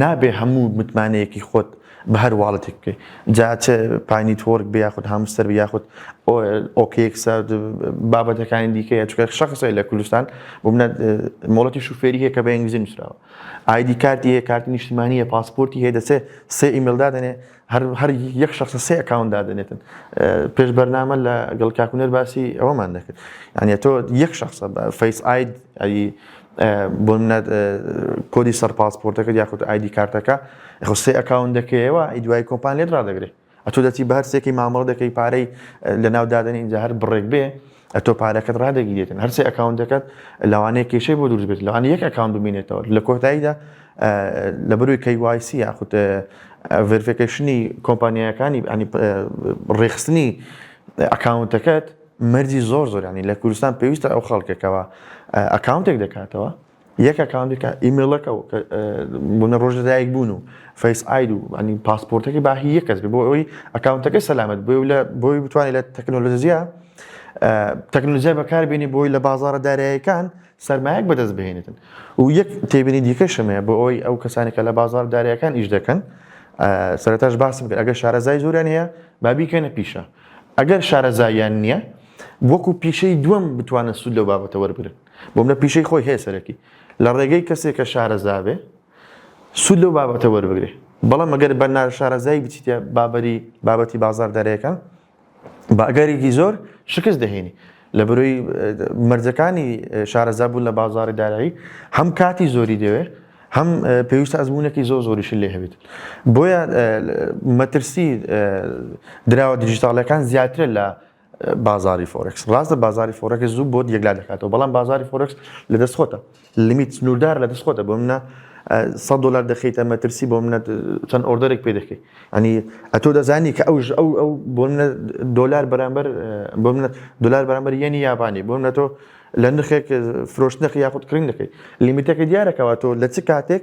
نابێ هەموو متمانەیەکی خۆت بە هەر واڵتێک بکەی جا چ پاینیتۆرک بێ یاخود هامستەر یاخود ئۆکێکس بابەتەکانی دیکەیە چکە شخصی لە کوردستان بمنە مۆڵەتی شوفێری هەیە کە بە ئنگلیزی نووسراوە ئایدی کارتی هەیە کارتی نیشتمانیە پاسپۆرتی هەیە دەچێت سێ ئیمێلدا دەنێ هەر هەر یەک شخص سێ ئەکاونت دادەنێتن پێش بەرنامە لە گەڵ کاکوونەر باسی ئەوەمان دەکرد یعنی تۆ یەک شخص فەیس ئاید ئەی بۆ منەت کۆدی سەر پاسپۆرتەکە یاخود ئایدی کارتەکە خو سێ ئەکاون دەکەیەوە ئی دوای کۆمپان لێت ڕدەگرێت ئەتو دەچی بە هەر سێکی مامەڵ دەکەی پارەی لە ناو دادنین جا هەر بڕێک بێ ئەتۆ پارەکەت ڕادەگیرێتن هەرسێ ئەکاونتەکەت لەوانەیە کێشەی بۆ دروست بێت لەوان یەک ئەکاون بمینێتەوە لە کۆتاییدا لە بروی کەیوایسی یاخود ڤرفەکەشنی کۆمپانیایەکانی ئەنی ڕێخستنی ئەکاونتەکەت مەرجی زۆر زۆرانی لە کوردستان پێویستە ئەو خەڵکەکەەوە ئەکاونتێک دەکاتەوە یەک ئەکاونتی کە ئیمێڵەکە و کە بوونە ڕۆژ لەدایک بوون و فەیس ئاید و ئەنی پاسپۆرتەکەی با هی یەک کەس بێ بۆ ئەوی ئەکاونتەکەی سەلامەت بێ و لە بۆی بتوانێت لە تەکنۆلۆژیا تەکنۆلۆژیای بەکار بێنی بۆی لە بازاڕە دارایەکان سەرمایەک بەدەست بهێنێتن و یەک تێبینی دیکەشم هەیە بۆ ئەوی ئەو کەسانی کە لە بازار دارایەکان ئیش دەکەن سەرتاش باسم کرد ئەگەر شارەزای زۆران هەیە با بیکەنە پیشە ئەگەر شارەزاییان نییە وەکو پیشەی دووەم بتوانن سوود لەو بابەتە وەربگرن بۆم لە پیشەی خۆی هەیە سەرەکی لە ڕێگەی کەسێک کە شارەزابێ سوود لەو بابەتە وەربگرێ بەڵام ئەگەر بە ناشارەزایی بچیتە بابەری بابەتی بازار دەرێکە باگەرێکی زۆر شکست دەهێنی لە بروی مەرجەکانی شارەزا بوون لە بازاری دارایی هەم کاتی زۆری دەوێ هەم پێویستە ئەزمونونەکی زۆ زۆریش لێ هەبێت بۆیە مەترسی دراوە دیجیتالەکان زیاترە لە بازاری فۆرکس ڕاستە بازاری فۆرەکە زوو بۆت یەکلا دەکاتەوە بەڵام بازاری فۆرکس لە دەست خۆتە لمیت سنووردار لە دەست خۆتە بۆ منە 100 دلار دەخیتە مەترسی بۆ منە چەند ئۆردەێک پێ دەکەیت ئەنی ئەتۆ دەزانی کە ئەوش ئەو ئەو بۆ منە دلار بەرامبەر بۆ منە دلار بەرامبەر یەنی یابانی بۆ منە تۆ لە نرخێک فرۆشتنەکە یاخود کرین دەکەیت لیمیتەکە دیارەکەەوە تۆ لە چ کاتێک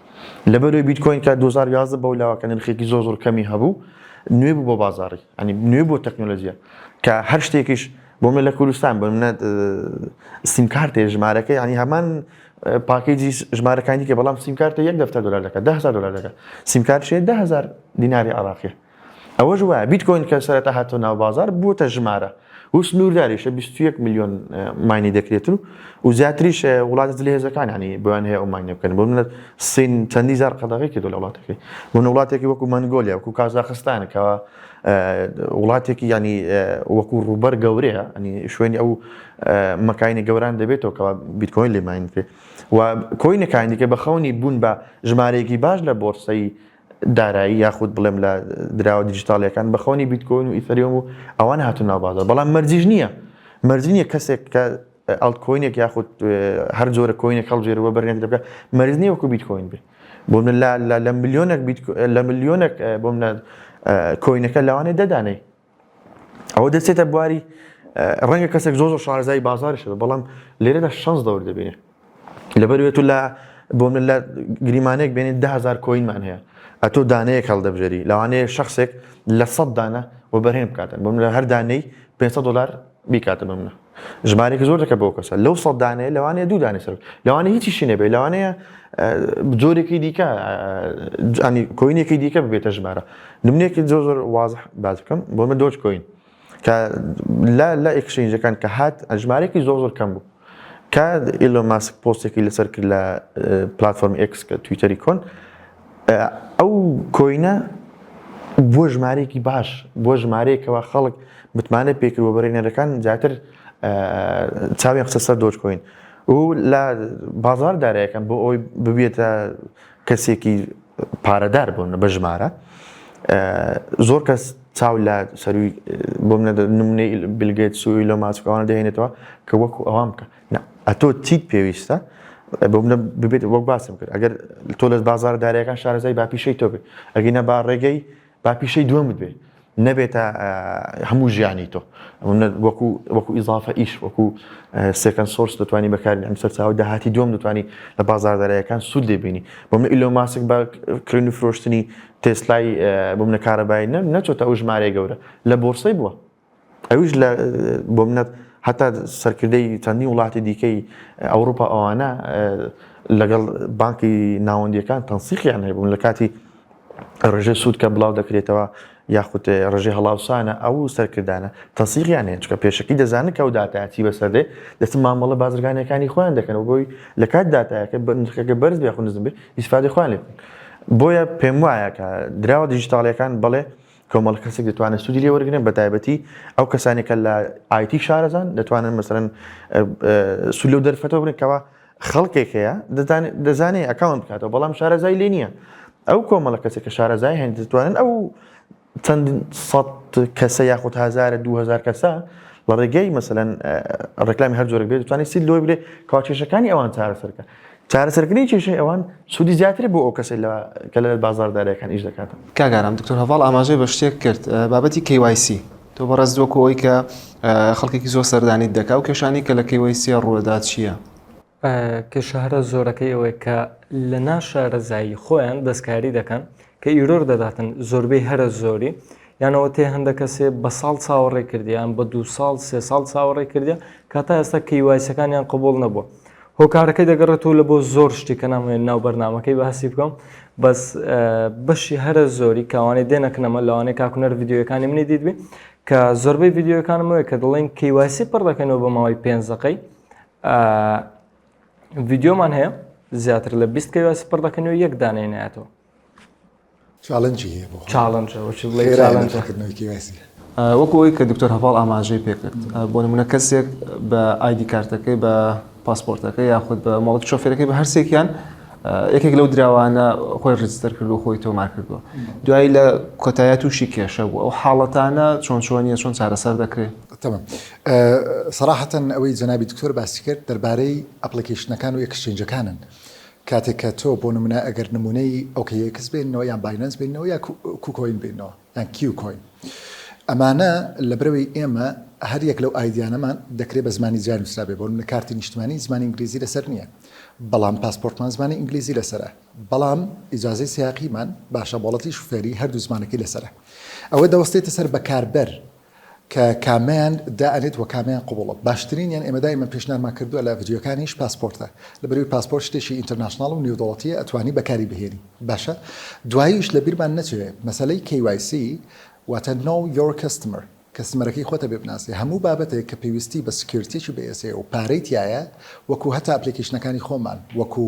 لەبەرەوەی بیتکۆین کە دوو هەزار و یازدە بەو لاوە کە نرخێکی زۆر زۆر کەمی هەبوو نوێ بوو بۆ بازاری ئەنی نوێ بۆ تەکنۆلۆژیە کە هەر شتێکیش بۆ من لە کوردستان بۆ منە سیم کارتێ ژمارەکە ینی هەمان پاکێجی ژمارەکانی کە بەڵام سیم کارتە یەک دەفتە دلار دەکە دههزار دلار دەکە سیم کارشێ دههزار دیناری عراقی ئەوەش وایە بیتکۆین کە سەرەتا هاتۆ ناو بازار بووتە ژمارە و سنوورداریشە بیست و یەک ملیۆن ماینی دەکرێت و و زیاتریش اه، وڵاتە جلی هێزەکان ینی بۆیان هەیە ئەو ماینە بکەن بۆ منەت سین چەندی زار قەدەغی کردو لە وڵاتەکەی بۆن وڵاتێکی وەکو مەنگۆلیا وەکو کازاخستان کەوا اه، وڵاتێکی ینی اه، وەکو ڕووبەر گەورەیە ینی شوێنی ئەو اه، مەکانی گەوران دەبێتەوە کەوا بیتکۆین لێ ماین کرێت و کۆینەکانی دیکە بە خەونی بوون بە ژمارەیەکی باش لە بۆرسەی دارایی یاخود بڵێم لە دراوە دیجیتاڵیەکان بە خەونی بیتکۆین و ئیثەریۆم و ئەوان هاتو ناوبازار بەڵام مەرجیش نییە مەرجی نیە کەسێک کە ئەڵتکۆینێک یاخود هەر جۆرە کۆینێک هەڵژێرەوە بەرێت دەکە مەرز نیە وەکو بیتکۆین بێ بۆ من لە لە ملیۆنێک لە ملیۆنێک بۆ منە کۆینەکە لەوانێ دەدانێ ئەوە دەچێتە بواری ڕەنگە کەسێک زۆ زۆر شارزای بازاریش بە بەڵام لێرەدا شەنس دەور دەبێنێ لەبەروێت و لە بۆ من لە گریمانێک بێنێت دههزار کۆینمان هەیە ئەتۆ دانەیەک هەڵدەبژێری لەوانەیە شخصێک لە سەد دانە و بەرهێن بکاتن بۆ من لە هەردانەی 500 دلار بیکاتە بە منە ژمارەیەکی زۆر دەکە بۆ کەسە لەو سەد دانەیە لەوانەیە دوو دانێ سەر لەوانەیە هیچیشی نەبێت لەوانەیە جۆرێکی دیکە ئەنی کۆینێکی دیکە ببێتە ژمارە نمونێکی زۆر زۆر واز باز بکەم بۆ من دۆچ کۆین کە لە لە ئەکسینجەکان کە هات ژمارێکی زۆر زۆر کەم بوو کە ئیلۆ ماسک پۆستێکی لەسەر کرد لە پلتفۆرم ئکس کە تویتەری کۆن ئەو کۆینە بۆ ژمارەیەکی باش بۆ ژمارەیەکەوە خەڵک متمانە پێکرد و بەرێنەرەکان زیاتر چاویان خستە سەر دۆج کۆین و لە بازار دارایەکەم بۆ ئەوی ببێتە کەسێکی پارەدار بوون بە ژمارە زۆر کەس چاو لە سەروی بۆم نمونەی بلگەت سوی لە ماسکەوان دەێنێتەوە کە وەکو ئەوام بکە نا ئەتۆ چیت پێویستە بۆ منە ببێت وەک باسم کرد ئەگەر تۆ لە بازار دارەکان شارەزای باپیشەی تۆ بێت ئەگەینە با ڕێگەی باپیشەی دووەم بێت نەبێتە هەموو ژیانی تۆ وەکو وەکو ئیزافە ئیش وەکو سێکەن سۆرس دەتوانانی بەکاری ئەم سەرچاو داهاتی دوم دەتوانانی لە بازاردارایەکان سوود لێبینی بۆ من ئیلۆ ماسک بە کرێن و فرۆشتنی تێسلای بۆ منە کارەبای نە نەچۆتە ئەو ژمارەیە گەورە لە بۆرسەی بووە ئەویش لە بۆ منەت هەتا سەرکردەی چەندین وڵاتی دیکەی ئەوروپا ئەوانە لەگەڵ بانکی ناوەندیەکان تەنسیقیان هەبوون لە کاتی ڕژێ سوود کە بڵاو دەکرێتەوە یاخود ڕژێ هەڵاوسانە ئەو سەرکردانە تەسیقیان هێنچکە پێشکی دەزانن کە و دااتاچی بەسەردێ دەچ مامەڵە بازرگانەکانی خۆیان دەکەنەوە بۆی لە کات دااتایەکە بەنرخەکە بەرز بێخ نزم بێ ئیسفادی خوان لێ بۆیە پێم وایە کە دراوە دیجیتاالەکان بڵێ کۆمەڵ کەسێک دەتوانێت سوودی لێ وەرگن بە تایبەتی ئەو کەسانی کە لە ئایتی شارەزان دەتوانن مەسەرەن سول و دەرفەتەوە بنکەوە خەڵکێک هەیە دەزانێت ئەکاون بکاتەوە بەڵام شارەزای لێ نییە ئەو کۆمەڵە کەسێک کە شارەزای هەند دەتوانن ئەو چەند سەد کەسە یاخود هزارە دوهزار کەسە لە ڕێگەی مەسەن ڕێکلامی هەر جۆرە بێت دەتوانانی سی لۆی بێ کاچێشەکانی ئەوان چارەسەرکە چارەسەرکردنی کێشەی ئەوان سوودی زیاترە بۆ ئەو کەسەی لە کە لە بازاردارەکان ئیش دەکات. کاگارام دکتۆر هەڤاڵ ئاماژەی بە شتێک کرد بابەتی KYC تۆ بەڕێز دووەکو ئەوی کە خەڵکێکی زۆر سەردانیت دەکا و کێشانی کە لە KYC ڕووەدا چییە؟ کێشە هەرە زۆرەکەی ئەوەیە کە لە ناشارەزایی خۆیان دەستکاری دەکەن کە ئیرۆر دەداتن زۆربەی هەرە زۆری یان ئەوە تێ هەندە کەسێ بە ساڵ چاوەڕێ کردیان بە دو ساڵ سێ ساڵ چاوەڕێ کردیا کە تا ئێستا کەیوایسەکانیان قبول نەبووە هۆکارەکەی دەگەڕێتەوە لە بۆ زۆر شتی کە نامێن ناو بەرنمەکەی باسی بکەم بەس بەشی هەرە زۆری کاوانەی دێنەکنەمە لەوانەیە کاکوونەر یددیوەکانی منی دیت بێ کە زۆربەی یددیوەکانمەوەی کە دڵین کەیواسی پڕ دەکەنەوە بە ماوەی پێنجەکەی ڤیددیۆمان هەیە زیاتر لە بیست کەوە سپڕ دەکەن و یەک دانەی ناتەوە چاالنجی هەیە بۆ چاالنجەکردنەوەکیواسی وەکو ئەوی کە دکتۆر هەواڵ ئاماژەی پێکرد بۆ نمونە کەسێک بە ئایدی کارتەکەی بە پاسپۆرتەکە یاخود بە مەڵک شۆفێرەکەی بە هەرسێکیان یەکێک لەو دراوانە خۆی ڕجستەر کرد و خۆی تۆمار کردووە دوایی لە کۆتایە تووشی کێشە بوو ئەو حاڵەتانە چۆن چۆنیە چۆن چارەسەر دەکرێت سەراحەتەن ئەوەی جەنابی دکتۆر باسی کرد دەربارەی ئەپڵیکەیشنەکان و ئێکسچەینجەکانن کاتێک کە تۆ بۆ نمونە ئەگەر نمونەی ئۆکەی ئێکس بێننەوە یان باینەنس بێننەوە یا کوکۆین بێننەوە یان کیو کۆین ئەمانە لە برەوەی ئێمە هەر یەک لەو ئایدیانەمان دەکرێت بە زمانی جیا نووسرابێ بۆ منە کارتی نیشتمانی زمانی ئینگلیزی لەسەر نییە بەڵام پاسپۆرتمان زمانی ئینگلیزی لەسرە بەڵام ئیجاازەی سیاقیمان باشە بۆڵەتی شوفێری هەردوو زمانەکەی لەسرە ئەوە دەوەستێتە سەر بەکاربەر کە کامیان دا ئەنێت وە کامیان قبوڵە باشترینیان ئێمە دایمەن پێشنیارمان کردوە لە ڤیدیۆکانیش پاسپۆرتە لەبەروی پاسپۆرت شتێکی ئینتەرناشناڵ و نیودەوڵەتیە ئەتوانی بەکاری بهێنی باشە دواییش لە بیرمان نەچێ مەسەلەی KYC واتە Know Your Customer کەستمەرەکەی خۆتە بێ بناسێ هەموو بابەتێک کە پێویستی بە سکیورتیەکی بەئێسێ و پارەی تیایە وەکو هەتا ئەپلیکەیشنەکانی خۆمان وەکو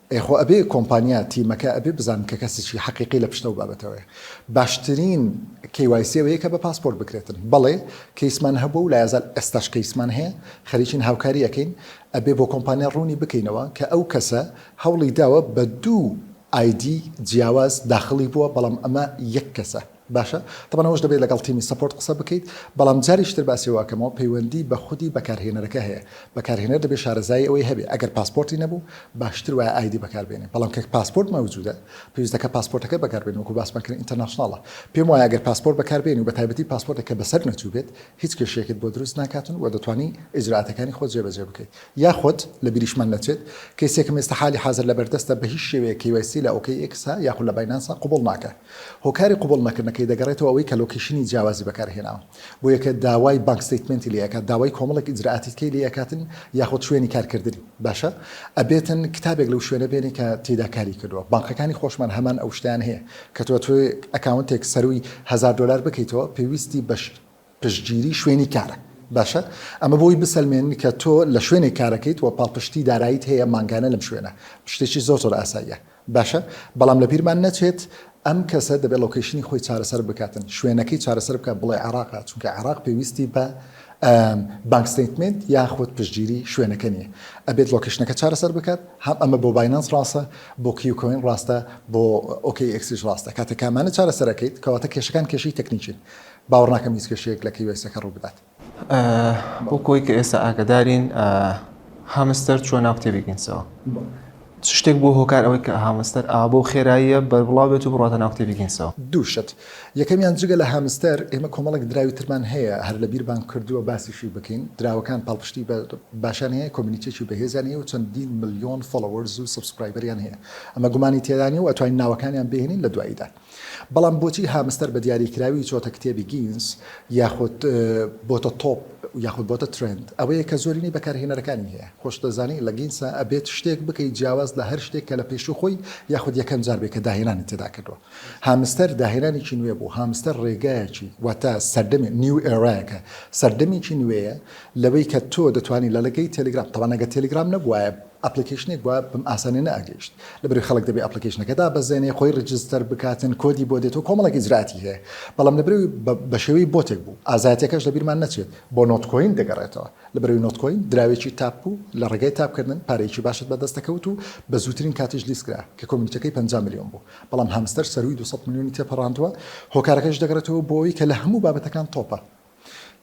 ئێ خۆ ئەبێ کۆمپانیا تیمەکە ئەبێ بزانن کە کەسیی حەقیقی لە پشتە و بابەتەوەیە باشترین KYC ئەوەیە کە بە پاسپۆرت بکرێتن بەڵێ کەیسمان هەبووە و لایەزال ئێستاش کەیسمان هەیە خەریکین هاوکاری ئەکەین ئەبێ بۆ کۆمپانیا ڕوونی بکەینەوە کە ئەو کەسە هەوڵی داوە بە دوو ئایدی جیاواز داخڵی بووە بەڵام ئەمە یەک کەسە. باشە تەبەن ئەوەش دەبێت لەگەڵ تیمی سەپۆرت قسە بکەیت بەڵام جاریش تر باسی ئەوە ئەکەمەوە پەیوەندی بە خودی بەکارهێنەرەکە هەیە بەکارهێنەر دەبێت شارەزایی ئەوەی هەبێت ئەگەر پاسپۆرتی نەبوو باشتر وایە ئایدی بەکاربێنێت بەڵام کە پاسپۆرت مەوجودە پێویستە کە پاسپۆرتەکە بەکاربێنێت وەکو باسمان کرد ئینتەرناشناڵە پێم وایە ئەگەر پاسپۆرت بەکاربێنی و بەتایبەتی پاسپۆرتێک کە بەسەر نەچووبێت هیچ کێشەیەکت بۆ دروست ناکاتن و دەتوانی ئیجرائاتەکانی خۆت جێبەجێ بکەیت یاخود لە بیریشمان نەچێت کەیسێکم ئێستا حالی حازر لەبەردەستە بە هیچ شێوەیەک KYC لە OKX یاخود لە باینانس قبوڵ ناکات هۆکاری قبوڵ نەکردنەکەی دەگەڕێتەوە ئەوەی کە لۆکەیشنی جیاوازی بەکارهێناوە بۆ یەکێ داوای بانک ستەیتمێنتی لێ ئەکات داوای کۆمەڵێک ئیجرائاتی تکەی لێ ئەکاتن یاخود شوێنی کارکردنی باشە ئەبێتن کتابێک لەو شوێنە بێنێ کە تێیدا کاری کردووە بانقەکانی خۆشمان هەمان ئەو شتەیان هەیە کە تۆ ئەتوێ ئەکاونتێک سەرووی هەزار دۆلار بکەیتەوە پێویستی بە پشتگیری شوێنی کارە باشە ئەمە بۆی بسەلمێن کە تۆ لە شوێنێک کارەکەیت و پاڵپشتی داراییت هەیە مانگانە لەم شوێنە شتێکی زۆر زۆر ئاساییە باشە بەڵام لە بیرمان نەچێت ئەم کەسە دەبێت لۆکەیشنی خۆی چارەسەر بکاتن شوێنەکەی چارەسەر بکە بڵێ عێراقا چونکە عێراق پێویستی بە بانک ستیتمنت یاخود پشتگیری شوێنەکە نییە ئەبێت لۆکەشنەکە چارەسەر بکات هەم ئەمە بۆ باینانس ڕاستە بۆ کیوکۆین ڕاستە بۆ ئۆکی ئەکسیش ڕاستە کاتە کامانە چارەسەرەکەیت کەواتە کێشەکان کێشەی تەکنیکین باوەڕ ناکەم هیچ کێشەیەک لە کیوایسەکە ڕوو بدات. بۆ کۆی کە ئێستا ئاگدارین هامستەر چوە ناو کتێبی گینسەوە چ شتێک بۆ هۆکار ئەوەی کە هامستەر ئا بۆ خێراییە بەربڵاو بێت و بڕاتە ناو کتێبی گینسەوە دووشت یەکەمیان جگە لە هامستەر ئێمە کۆمەڵێک دراوی ترمان هەیە هەر لە بیربان کردووە باسیشی بکەین دراوەکان پاڵپشتی بە باشان هەیە کۆمنیتێکی بەهێزیان هەیە و چەندین ملیۆن فۆڵۆوەرز و سەبسکرایبەریان هەیە ئەمە گومانی تێدانی و ئەتوانین ناوەکانیان بهێنین لە دواییدا. بەڵام بۆچی هامستەر بە دیاریکراوی چۆتە کتێبی گینس یاخود بۆتە تۆپ یاخود بۆتە ترێند ئەوەیە کە زۆرینەی بەکارهێنەرەکانی هەیە خۆشتدەزانی لە گینسە ئەبێت شتێک بکەیت جیاواز لە هەر شتێک کە لە پێشوو خۆی یاخود یەکەم جار بێت کە داهێنانی تێدا کردووە هامستەر داهێنانێکی نوێ بوو هامستەر ڕێگایەکی واتە سەردەمی نیو ئێرایەکە سەردەمێکی نوێیە لەوەی کە تۆ دەتوانانی لە لەگەی تێلگرام تەوانەگە تێلگرام نەبوایە ئەپڵیکەیشنێک بوە بەم ئاسانیە نەئەگەیشت لەبەرەوەی خەڵک دەبێ ئەپڵیکەیشنەکە دابەزێنێ خۆی ڕیجستەر بکاتن کۆدی بۆ دێتەوە کۆمەڵێک ئیجراتی هەیە بەڵام لەبەرەوەی بەشێوەی بۆتێک بوو ئازایەتیەکەش لەبیرمان نەچێت بۆ نۆتکۆین دەگەڕێتەوە لەبەرەوەی نۆتکۆین دراوێکی تاپ بوو لە ڕێگای تاپکردن پارەیەکی باشت بەدەست دەکەوت و بە زووترین کاتیش لیستکرا کە کۆمیونیتەکەی پەنجا ملیۆن بوو بەڵام هامستەر سەرووی دوو سەد ملیۆنی تێپەڕاندوە هۆکارەکەش دەگەڕێتەوە بۆ ئەوەی کە لە هەموو بابەتەکان تۆپە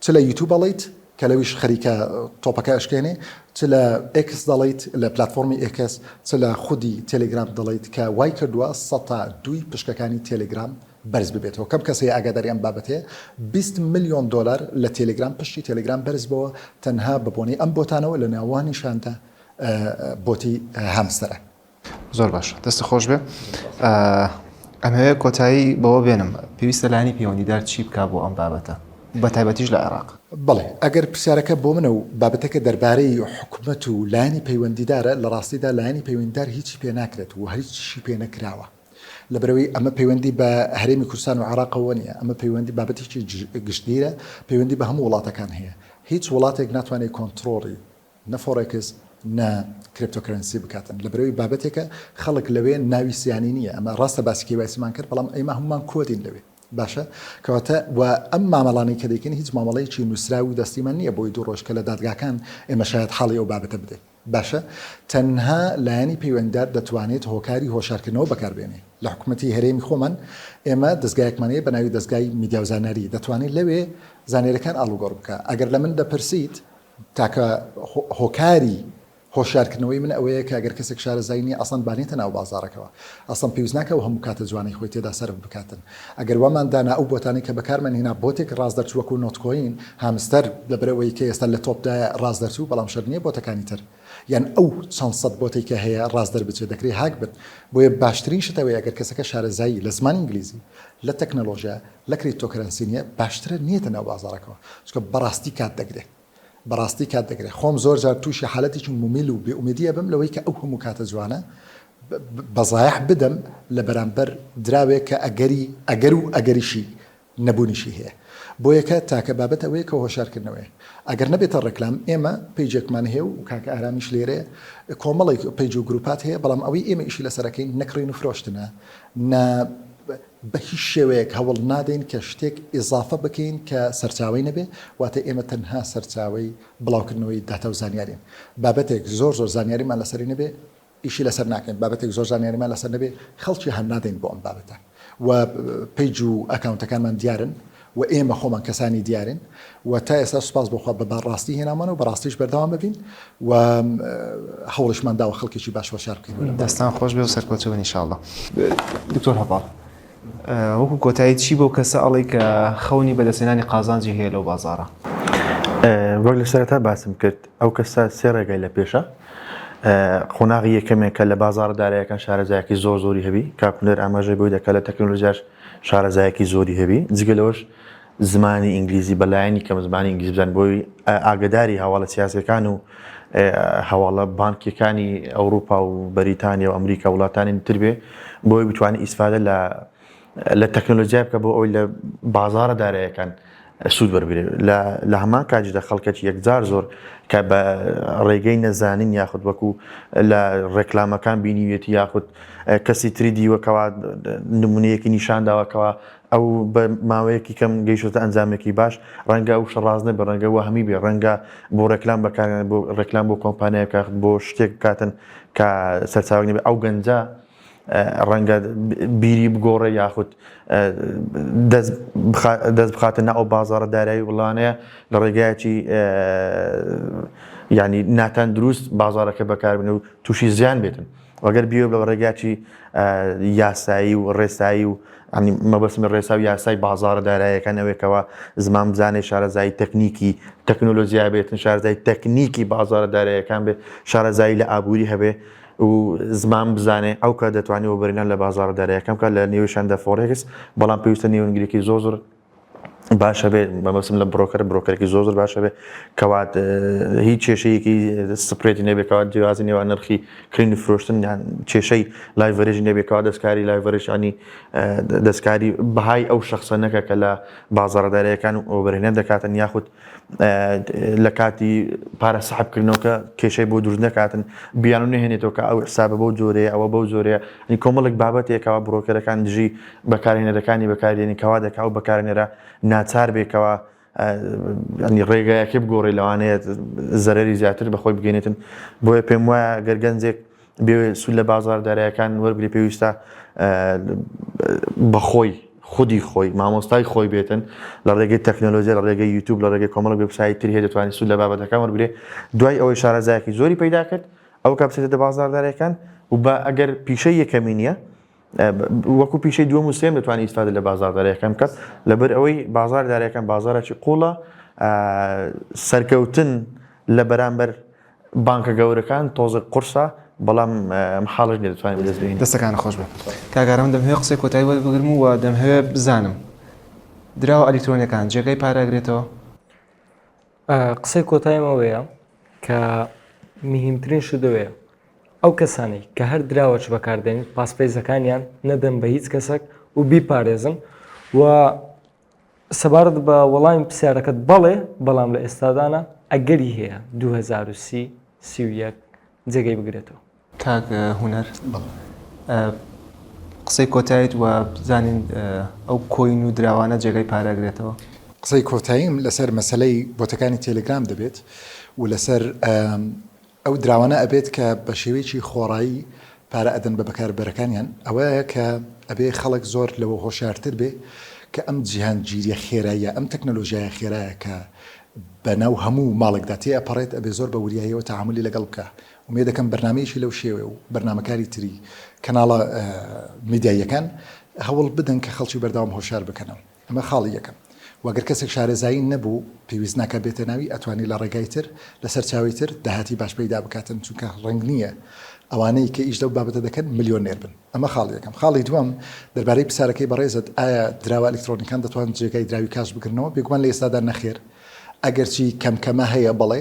چ لە یوتوب ئەڵێیت کە لەویش خەریکە تۆپەکە ئەشکێنێ چ لە ئێکس دەڵێیت لە پلاتفۆرمی ئێکس چ لە خودی تێلێگرام دەڵێیت کە وای کردووە سەتا دووی پشکەکانی تێلێگرام بەرز ببێتەوە کەم کەس هەیە ئاگاداری ئەم بابەتەیە بیست ملیۆن دۆلار لە تێلێگرام پشتی تێلێگرام بەرز بۆوە تەنها بە بۆنەی ئەم بۆتانەوە لە ناوانیشاندا بۆتی هامستەرە زۆر باشە دەست خۆش بێ ئەمەوێت کۆتایی بەوە بێنم پێویستە لانی پەیوەندیدار چی بک بۆ ئەم بابەتە بە تایبەتیش لە عێراق بڵێ ئەگەر پرسیارەکە بۆ منە و بابەتەکە دەربارەی حکومەت و لایەنی پەیوەندیدارە لە ڕاستیدا لایەنی پەیوەندیدار هیچی پێ ناکرێت و هەرچی پێ نەکراوە لەبەرەوەی ئەمە پەیوەندی بە هەرێمی کوردستان و عراقەوە نیە ئەمە پەیوەندی بابەتێکی گشتگیرە پەیوەندی بە هەموو وڵاتەکان هەیە هیچ وڵاتێک ناتوانێت کۆنتترۆڵی نە فۆڕێکس نە کریپتۆ کەرەنسی بکاتن لەبەرەوەی بابەتێکە خەڵک لەوێ ناوی سیانی نیە ئەمە ڕاستە باسی کێوایسیمان کرد بەڵام ئەیما هەمومان کۆدین لەوێ باشە کەواتە و ئەم مامەڵانەی کە دەکەین هیچ مامەڵەیەکی نووسراو و دەستیمان نییە بۆی دوو ڕۆژ کە لە دادگاکان ئێمە شاید حاڵی ئەو بابەتە بدەین باشە تەنها لایەنی پەیوەندار دەتوانێت هۆکاری هۆشارکردنەوە بەکاربێنێ لە حکوومەتتی هەرێمی خۆمان ئێمە دەستگایەکمانەیە بە ناوی دەستگای میدیاوزانەری دەتوانێت لەوێ زانێرەکان ئاڵوگۆڕ بکە ئەگەر لە من دەپرسیت تاکە هۆکاری هۆشیارکردنەوەی من ئەوەیە کە گەر کەسێک شارەزایی نیە ئەسڵەن بانێتە ناو بازاڕەکەوە ئەسڵەن پێویست ناکە و هەموو کاتە جوانەی خۆی تێدا سەرف بکاتن ئەگەر وامان دانا ئەو بۆتانەی کە بەکارمان هێنا بۆتێک ڕاست دەرچوو وەکو نۆتکۆین هامستەر لەبەر ئەوەی کە ئێستا لە تۆپدایە ڕاست دەرچوو بەڵام شەرت نییە بۆتەکانی تر یان ئەو چەند سەد بۆتەی کە هەیە ڕاست دەربچێت دەکرێت هاک بن بۆیە باشترین شت ئەوەیە گەر کەسەکە شارەزایی لە زمانی ئینگلیزی لە تەکنەلۆژیا لە کریپتۆکەرەنسی نیە باشترە نیەتە ناو بازاڕەکەوە چونکە بەڕاستی کات دەگرێ بەڕاستی کات دەگرێ خۆم زۆر جار تووشی حالەتێکی مومیل و بێ ئومێدی ئەبم لەوەی کە ئەو هەموو کاتە جوانە بە زایەح بدەم لە بەرامبەر دراوێک کە ئەگەری ئەگەر و ئەگەریشی نەبوونیشی هەیە بۆ یەکە تاکە بابەت ئەوەیە کە هۆشارکردنەوەی ئەگەر نەبێتە ڕێکلام ئێمە پەیجێکمان هەیە و کاکە ئارامیش لێرەیە کۆمەڵێک پەیج و گروپات هەیە بەڵام ئەوەی ئێمە ئیشی لەسەرەکەین نەکڕین و فرۆشتنە نە بە هیچ شێوەیەک هەوڵ نادەین کە شتێک ئیزافە بکەین کە سەرچاوەی نەبێ، واتە ئێمە تەنها سەرچاوەی بڵاوکردنەوەی داتا و زانیارین. بابەتێک زۆر زۆر زانیاریمان لەسەری نەبێ ئیشی لەسەر ناکەین، بابەتێک زۆر زانیاریمان لەسەر نەبێ خەڵکی هاننادەین بۆ ئەم بابەتە و پەیج و ئەکاونتەکانمان دیارن و ئێمە خۆمان کەسانی دیارین و تا ئێستا سوپاس بۆ خوا بە بارڕاستی هێنامانە و بەڕاستیش بەردەوام ببین و هەوڵیشمان داوە خەڵکێکی باش وەشار بکەین دەستان خۆش بێ و سەرکەوتوو بن انشاءاللە دکتۆر هەڤاڵ وەکو کۆتایی چی بەو کەسە ئەڵێی کە خەونی بەدەستهێنانی قازانجی هەیە لەو بازاڕە وەک لە سەرەتا باسم کرد ئەو کەسە سێ ڕێگای لە پێشە قۆناغی یەکەمێکە لە بازاڕە دارایەکان شارەزایەکی زۆر زۆری هەبی کاکولێر ئاماژەی بۆی دەکات لە تەکنۆلۆژیاش شارەزایەکی زۆری هەبی جگە لەوەش زمانی ئینگلیزی بە لایەنی کەم زمانی ئینگلیزی بزانی بۆی ئاگەداری هەواڵە سیاسیەکان و هەواڵە بانکیەکانی ئەوروپا و بەریتانیا و ئەمریکا وڵاتانی تر بێ بۆی بتوانانی ئیسفادە لە لە تەکنۆلۆژیای بکە بۆ ئەوی لە بازارە دارایەکان سوود وەربگرێت، لە لە هەمان کاتیشدا خەڵکەکی یەکجار زۆر کە بە ڕێگەی نەزانین یاخود وەکو لە ڕێکلامەکان بینیویەتی یاخود کەسی تری دیوە کەوا نمونەیەکی نیشان داوە کەوا ئەو بە ماوەیەکی کەم گەیشتە ئەنجامێکی باش ڕەنگە ئەو شەڕاز نەبێ ڕەنگە وەهمی بێ ڕەنگە بۆ ڕێکلام بەکاریان بۆ ڕێکلام بۆ کۆمپانیایەکە بۆ شتێک بکاتن کە سەرچاوەی نەبێ ئەو گەنجە ڕەنگە بیری بگۆڕێ یاخود دەست بخاتە نە ئەو بازارە دارایی وڵانەیە لە ڕێگایەکی ینی ناتان دروست بازارەکە بەکاربن و تووشی زیان بێتن وەگەر بیێ بە ڕێگاچی یاسایی و ڕێسایی و مەبەسمی ڕێسا و یاسای بازارە دارایەکان ئەوێکەوە زمان بزانێ شارەزایی تەکنیکی تەکنۆلۆژیا بێتن شارزای تەکنیکی بازارە دارایەکان بێت شارەزایی لە ئابووری هەبێ و زمان بزانێ ئەو کات دەتوانێ وەبەرهێنان لە بازاڕە داراییەکان بکات لە نێوی شاندە فۆرێکس، بەڵام پێویستە نێونگرێکی زۆر زۆر باش هەبێت، مەبەستم لە برۆکەرە برۆکەرێکی زۆر زۆر باش هەبێت کەوات هیچ کێشەیەکی سپرێتی نەبێت کەوات جیازی نێوان نرخی کڕین و فرۆشتن یان کێشەی لایڤەرێژی نەبێت کەوا دەستکاری لایڤەرێژانی دەستکاری بەهای ئەو شەخسە نەکە کە لە بازاڕە داراییەکان وەبەرهێنان دەکاتن یاخود لە کاتی پارە سەحب کردنەوە کە کێشەی بۆ دروست نەکاتن بیان و نەهێنێتەوە کە ئەو حسابە بەو جۆرەیە ئەوە بەو جۆرەیە ئەنی کۆمەڵێک بابەتێکەوە بڕۆکەرەکان دژی بەکارهێنەرەکانی بەکاردێنی کەوا دەکا و بەکارهێنەرە ناچار بێکەوە ئەنی ڕێگایەکی بگۆڕی لەوانەیە زەرری زیاتر بەخۆی بگەێنێتن بۆیە پێم وایە گەرگەنجێک بێوێ سود لە بازار دارایەکان وەرگری پێویستە بەخۆی خودی خۆی مامۆستای خۆی بێتن لە ڕێگەی تەکنۆلۆژی لە ڕێگەی یوتوب لە ڕێگەی کۆمەڵ وبسایی تر هەیە دەتوانانی سود لە بابەتەکان وەرگێ دوای ئەوەی شارەزایەکی زۆری پیدا کرد ئەو کاپسێتە دە بازاردارەکان و بە ئەگەر پیشە یەکەمی نییە وەکو پیشەی دووە مسلێن دەتوانانی ئیسفادە لە بازاردارەکەم کەس لەبەر ئەوەی بازاردارەکەم بازارێکی قوڵە سەرکەوتن لە بەرامبەر بانکە گەورەکان تۆزێک قورسە بەڵام محاڵش نیە دەتوانین بەدەست بهێنین. دەستەکانت خۆش بێت کاک ئارام دەمهەوێ قسەی کۆتایی وەرت بگرم و دەمهەوێ بزانم دراوە ئەلیکترۆنیەکان جێگای پارە ئەگرێتەوە؟ قسەی کۆتایم ئەوەیە کە مهمترین شت ئەوەیە ئەو کەسانی کە هەر دراوەش بەکاردێنن پاسپەیزەکانیان نەدەن بە هیچ کەسێک و بیپارێزن و سەبارەت بە وەڵامی پرسیارەکەت، بەڵێ، بەڵام لە ئێستادا نا، ئەگەری هەیە دوو هەزار و سی، سی و یەک جێگەی بگرێتەوە. کاک هونەر قسەی کۆتایت وە بزانین ئەو کۆین و دراوانە جێگای پارە ئەگرێتەوە؟ قسەی کۆتاییم لەسەر مەسەلەی بۆتەکانی تێلێگرام دەبێت و لەسەر ئەو دراوانە ئەبێت کە بە شێوەیەکی خۆڕایی پارە ئەدەن بە بەکاربەرەکانیان، ئەوەیە کە ئەبێ خەڵک زۆر لەوە هۆشیارتر بێ کە ئەم جیهانگیریە خێراییە، ئەم تەکنەلۆژیایە خێرایە کە بە ناو هەموو ماڵێکدا تێ ئەپەڕێت، ئەبێ زۆر بە وریاییەوە تەعامولی لەگەڵ بکا. ئومێد ئەکەم بەرنامەیەکی لەو شێوەیە و بەرنامەکاری تری کەناڵە میدیاییەکان هەوڵ بدەن کە خەڵکی بەردەوام هۆشیار بکەنەوە. ئەمە خاڵی یەکەم. و گەر کەسێک شارەزایی نەبوو، پێویست ناکات بێتە ناوی، ئەتوانێت لە ڕێگای تر، لە سەرچاوەی تر، داهاتی باش پەیدا بکاتن، چونکە ڕەنگ نییە ئەوانەی کە ئیش لەو بابەتە دەکەن ملیۆنێر بن. ئەمە خاڵی یەکەم. خاڵی دووەم، دەربارەی پرسیارەکەی بەڕێزت، ئایا دراوە ئەلیکترۆنییەکان دەتوان جێگای دراوی کاش بگرنەوە؟ بێگومان لە ئێستادا نەخێر، ئەگەرچی کەم کەمە هەیە بەڵێ،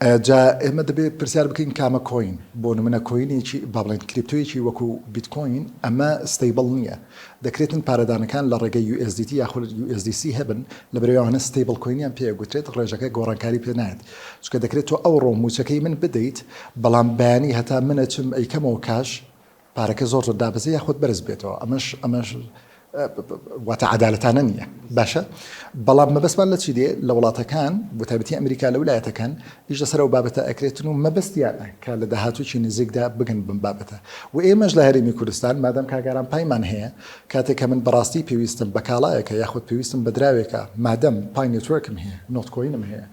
جا ئێمە دەبێت پرسیار بکەین کامە کۆین؟ بۆ نمونە کۆینێکی با بڵێن کریپتۆیەکی وەکو بیتکۆین ئەمە ستەیبڵ نییە دەکرێتن پارەدانەکان لە ڕێگەی یو ئێس دی تی یاخود یو ئێس دی سی هەبن لەبەرئەوەی ئەوانە ستەیبڵ کۆینیان پێ ئەگوترێت ڕێژەکە گۆڕانکاری پێ نایەت چونکە دەکرێت تۆ ئەوڕۆ مووچەکەی من بدەیت بەڵام بەیانی هەتا من ئەچم ئەیکەمەوە کاش پارەکە زۆر زۆر دابەزێ یاخود بەرز بێتەوە ئەمەش ئەمەش واتە عدالەتانە نییە باشە بەڵام مەبەستمان لە چی دێ لە وڵاتەکان بەتابەتی ئەمریکا لە ولایەتەکان ئیش لەسەر و بابەتە ئەکرێتن و مەبەستیانە کە لە داهاتووی نزیکدا بگەن بم بابەتە و ئێمەش لە هەرمی کوردستان مادەم کاگاران پایمان هەیە کاتێک کە من بەڕاستی پێویستم بە کاڵایەکە یاخود پێویستم بەدراوێکە مادەم پای نێتوەرکم هەیە نۆتکۆینم هەیە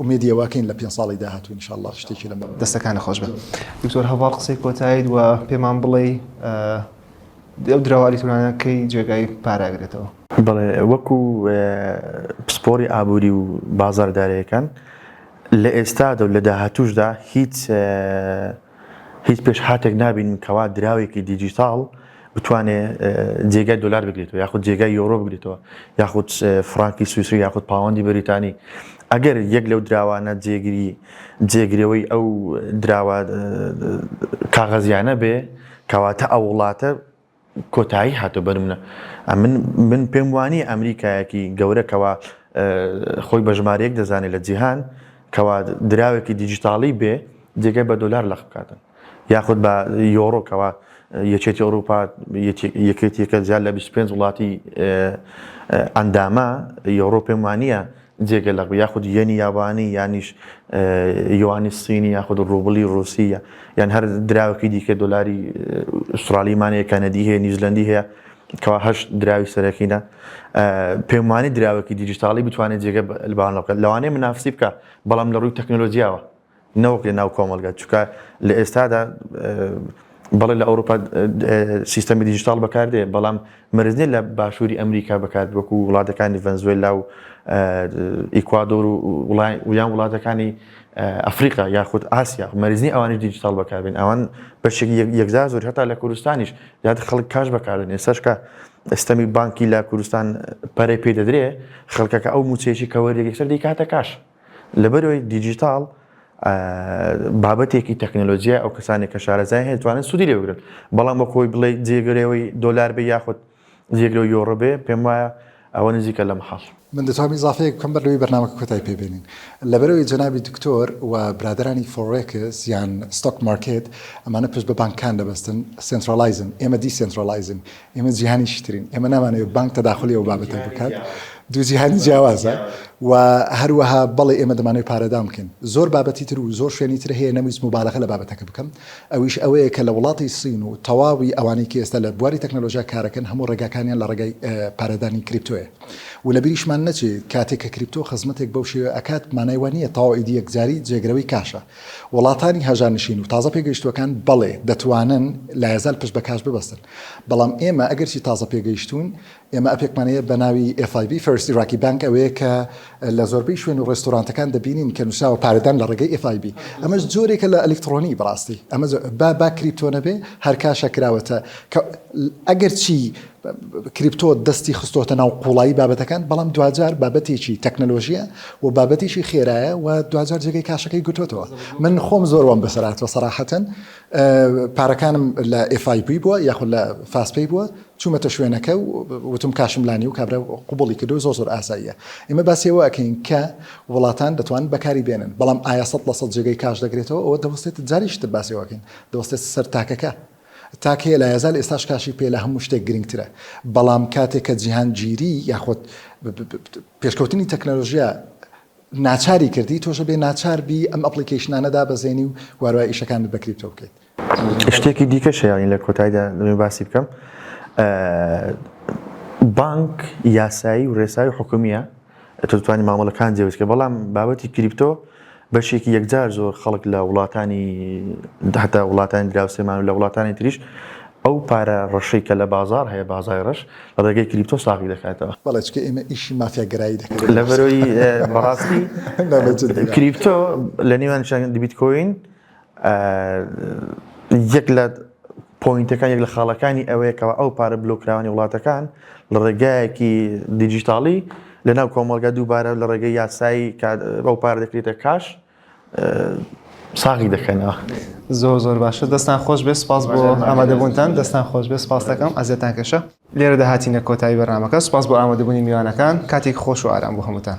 ئومێدی ئەوە کەین لە پێنج ساڵی داهاتوو ان شاء اللە شتێکی لەم بابەتە. دەستەکانت خۆش بێت دکتۆر هەڤاڵ قسەی کۆتایت و پێمان بڵێی ئەو دراوە ئەلیکترۆنانە کەی جێگای پاراگرێتەوە؟ بەڵێ وەکو پسپۆری ئابووری و بازاردارەکان لە ئێستادا و لە داهاتووشدا هیچ هیچ پێشهاتێک نابینین کەوا دراوێکی دیجیتاڵ بتوانێ جێگای دۆلار بگرێتەوە یاخود جێگای یۆرۆ بگرێتەوە یاخود فرانکی سویسری یاخود پاوەندی بریتانی ئەگەر یەک لەو دراوانە جێگیری جێگرەوەی ئەو دراوە کاغەزیانە بێ کەواتە ئەو وڵاتە کۆتایی هاتوە بەرمنە ئەمن من پێم وانی ئەمریکایەکی گەورە کەوا خۆی بە ژمارەیەک دەزانێت لە جیهان کەوا دراوێکی دیجیتاڵی بێ جێگەی بە دۆلار لەخ بکاتن یاخود بە یۆڕۆکەوە یەکێتی ئەوروپا یەکێتیەکە زیاد لە 25 وڵاتی ئەندامە یۆڕۆ پێم وانە جێگە لەق بێ یاخود یەنی یابانی یانیش یوانی سینی یاخود ڕوبڵی ڕوسی یان هەر دراوکی دیکە دلاری ئوسترالی مانەیە کەنەدی هەیە نیزلندی هەیە کەوا هەش دراوی سەرەکینە پێمانی دراوەکی دیجیتاڵی بتوانێت جێگە لەبانەکە لەوانەیە منافسی بکە بەڵام لە ڕووی تەکنۆلۆژیاوە نەوەک لە ناو کۆمەڵگە چونکە لە ئێستادا بەڵێ لە ئەوروپا سیستەمی دیجیتال بەکاردێ بەڵام مەرزنی لە باشووری ئەمریکا بەکات وەکو وڵاتەکانی ڤەنزوێلا و ئیکوادۆر و ویان وڵاتەکانی ئەفریقا یاخود ئاسیا مەرزنی ئەوانی دیجیتال بەکاربن ئەوان بەشێک یەکزار زۆر هەتا لە کوردستانیش یاد خەڵک کاش بەکارن ئێسەشکە ئەستەمی بانکی لە کوردستان پەرەی پێ دەدرێ خەڵکەکە ئەو موچەیەکی کەوەری یەکسەر دەیکاتە کاش لە بەرەوەی دیجیتاڵ بابەتێکی تەکنەلۆژیای ئەو کەسانی کە شارەزای هەیە توانن سوودی لێ بگرن بەڵام بە خۆی بڵێ جێگرەوەی دۆلار بێ یاخود جێگرەوە یۆڕۆ بێ پێم وایە ئەوە نزیکە لە محاڵ من دەتوانم ئیزافەیەک بکەم بەر لەوەی بەرنامەکە کۆتای پێ بێنین لەبەرەوەی جەنابی دکتۆر و برادەرانی فۆڕێکس یان ستۆک مارکێت ئەمانە پشت بە بانکان دەبەستن سنتراڵایزن ئێمە دیسنتراڵایزن ئێمە جیهانی چیترین ئێمە نامانەوێت بانک تەداخلی ئەو بابەتە بکات دوو جیهانی جیاوازە و هەروەها بەڵێ ئێمە دەمانەوەی پارەدان بکەین زۆر بابەتی تر و زۆر شوێنی تر هەیە نەویست مبالغە لە بابەتەکە بکەم ئەویش ئەوەیە کە لە وڵاتی سین و تەواوی ئەوانەی کە ئێستا لە بواری تەکنەلۆژیا کارەکەن هەموو ڕێگاکانیان لە ڕێگای پارەدانی کریپتۆیە و لە بیریشمان نەچێ کاتێک کە کریپتۆ خزمەتێک بەو شێوە ئەکات مانای وە نییە تەواو ئیدی یەکجاری جێگرەوەی کاشە وڵاتانی هەژانشین و تازە پێگەیشتوەکان بەڵێ دەتوانن لایەزال پشت بە کاش ببەستن بەڵام ئێمە ئەگەرچی تازە پێگەیشتووین، ئێمە ئەپێکمان هەیە بە ناوی FIB، First Iraqi Bank، ئەوەیە کە لە زۆربەی شوێن و ڕێستۆرانتەکان دەبینین کە نووسراوە پارەدان لە ڕێگەی FIB. ئەمەش جۆرێکە لە ئەلیکتڕۆنی بەڕاستی. ئەمە با با کریپتۆ نەبێ، هەر کاشە کراوەتە کە ئەگەرچی کریپتۆ دەستی خستۆتە ناو قووڵایی بابەتەکان، بەڵام دواجار بابەتێکی تەکنەلۆژییە و بابەتێکی خێرایە و دواجار جێگەی کاشەکەی گرتۆتەوە. من خۆم زۆر وام بەسەر هاتووە سەراحەتەن. پارەکانم لە FIP بووە یاخود لە Fastpay بووە چوومەتە شوێنەکە و وتم کاشم لا نیە و کابرا قبوڵی کردو زۆر زۆر ئاساییە ئێمە باسی ئەوە ئەکەین کە وڵاتان دەتوانن بەکاری بێنن بەڵام ئایا سەد لە سەد جێگەی کاش دەگرێتەوە ئەوە دەوەستێت جاریش تر باسی ئەوە ئەکەین دەوەستێت سەر تاکەکە تاک هەیە لە یازال ئێستاش کاشی پێ لە هەموو شتێک گرنگترە بەڵام کاتێک کە جیهانگیری یاخود پێشکەوتنی تەکنەلۆژیا ناچاری کردی تۆش بێ ناچار بی ئەم ئەپڵیکەیشنانە دابەزێنی و واروای ئیشەکانت بە کریپتۆ بکەیت. شتێکی دیکەش هەیە یانی لە کۆتایدا دەمەوێت باسی بکەم بانک یاسایی و ڕێسای و حکومیە تۆ دەتوانانی مامەڵەکان جێبەجێ بکەی بەڵام بابەتی کریپتۆ بەشێکی یەکجار زۆر خەڵک لە وڵاتانی هەتا وڵاتانی دراوسێمان و لە وڵاتانی تریش ئەو پارە ڕەشەی کە لە بازار هەیە بازای ڕەش ڕێگەی کریپتۆ ساغی دەکاتەوە. بەڵێ چونکە ئێمە ئیشی مافیا گەرایی دەکەین. لەبەرئەوەی بەڕاستی کریپتۆ لە نێوان شاگەندی بیتکۆین یەک لە پۆینتەکان یەک لە خاڵەکانی ئەوەیە کەوا ئەو پارە بلۆککراوانی وڵاتەکان لە ڕێگایەکی دیجیتاڵی لەناو کۆمەڵگا دووبارە لە ڕێگەی یاسایی کە ئەو پارە دەکرێتە کاش. ساغی دەکەنەوە زۆر زۆر باشە دەستان خۆش بێ سپاس بۆ ئامادەبوونتان دەستان خۆش بێ سپاس دەکەم ئازێتان کەشە لێرە داهاتینە کۆتایی بەرنمەکە سپاس بۆ ئامادەبوونی میوانەکان کاتێک خۆش و ئارام بۆ هەمووتان.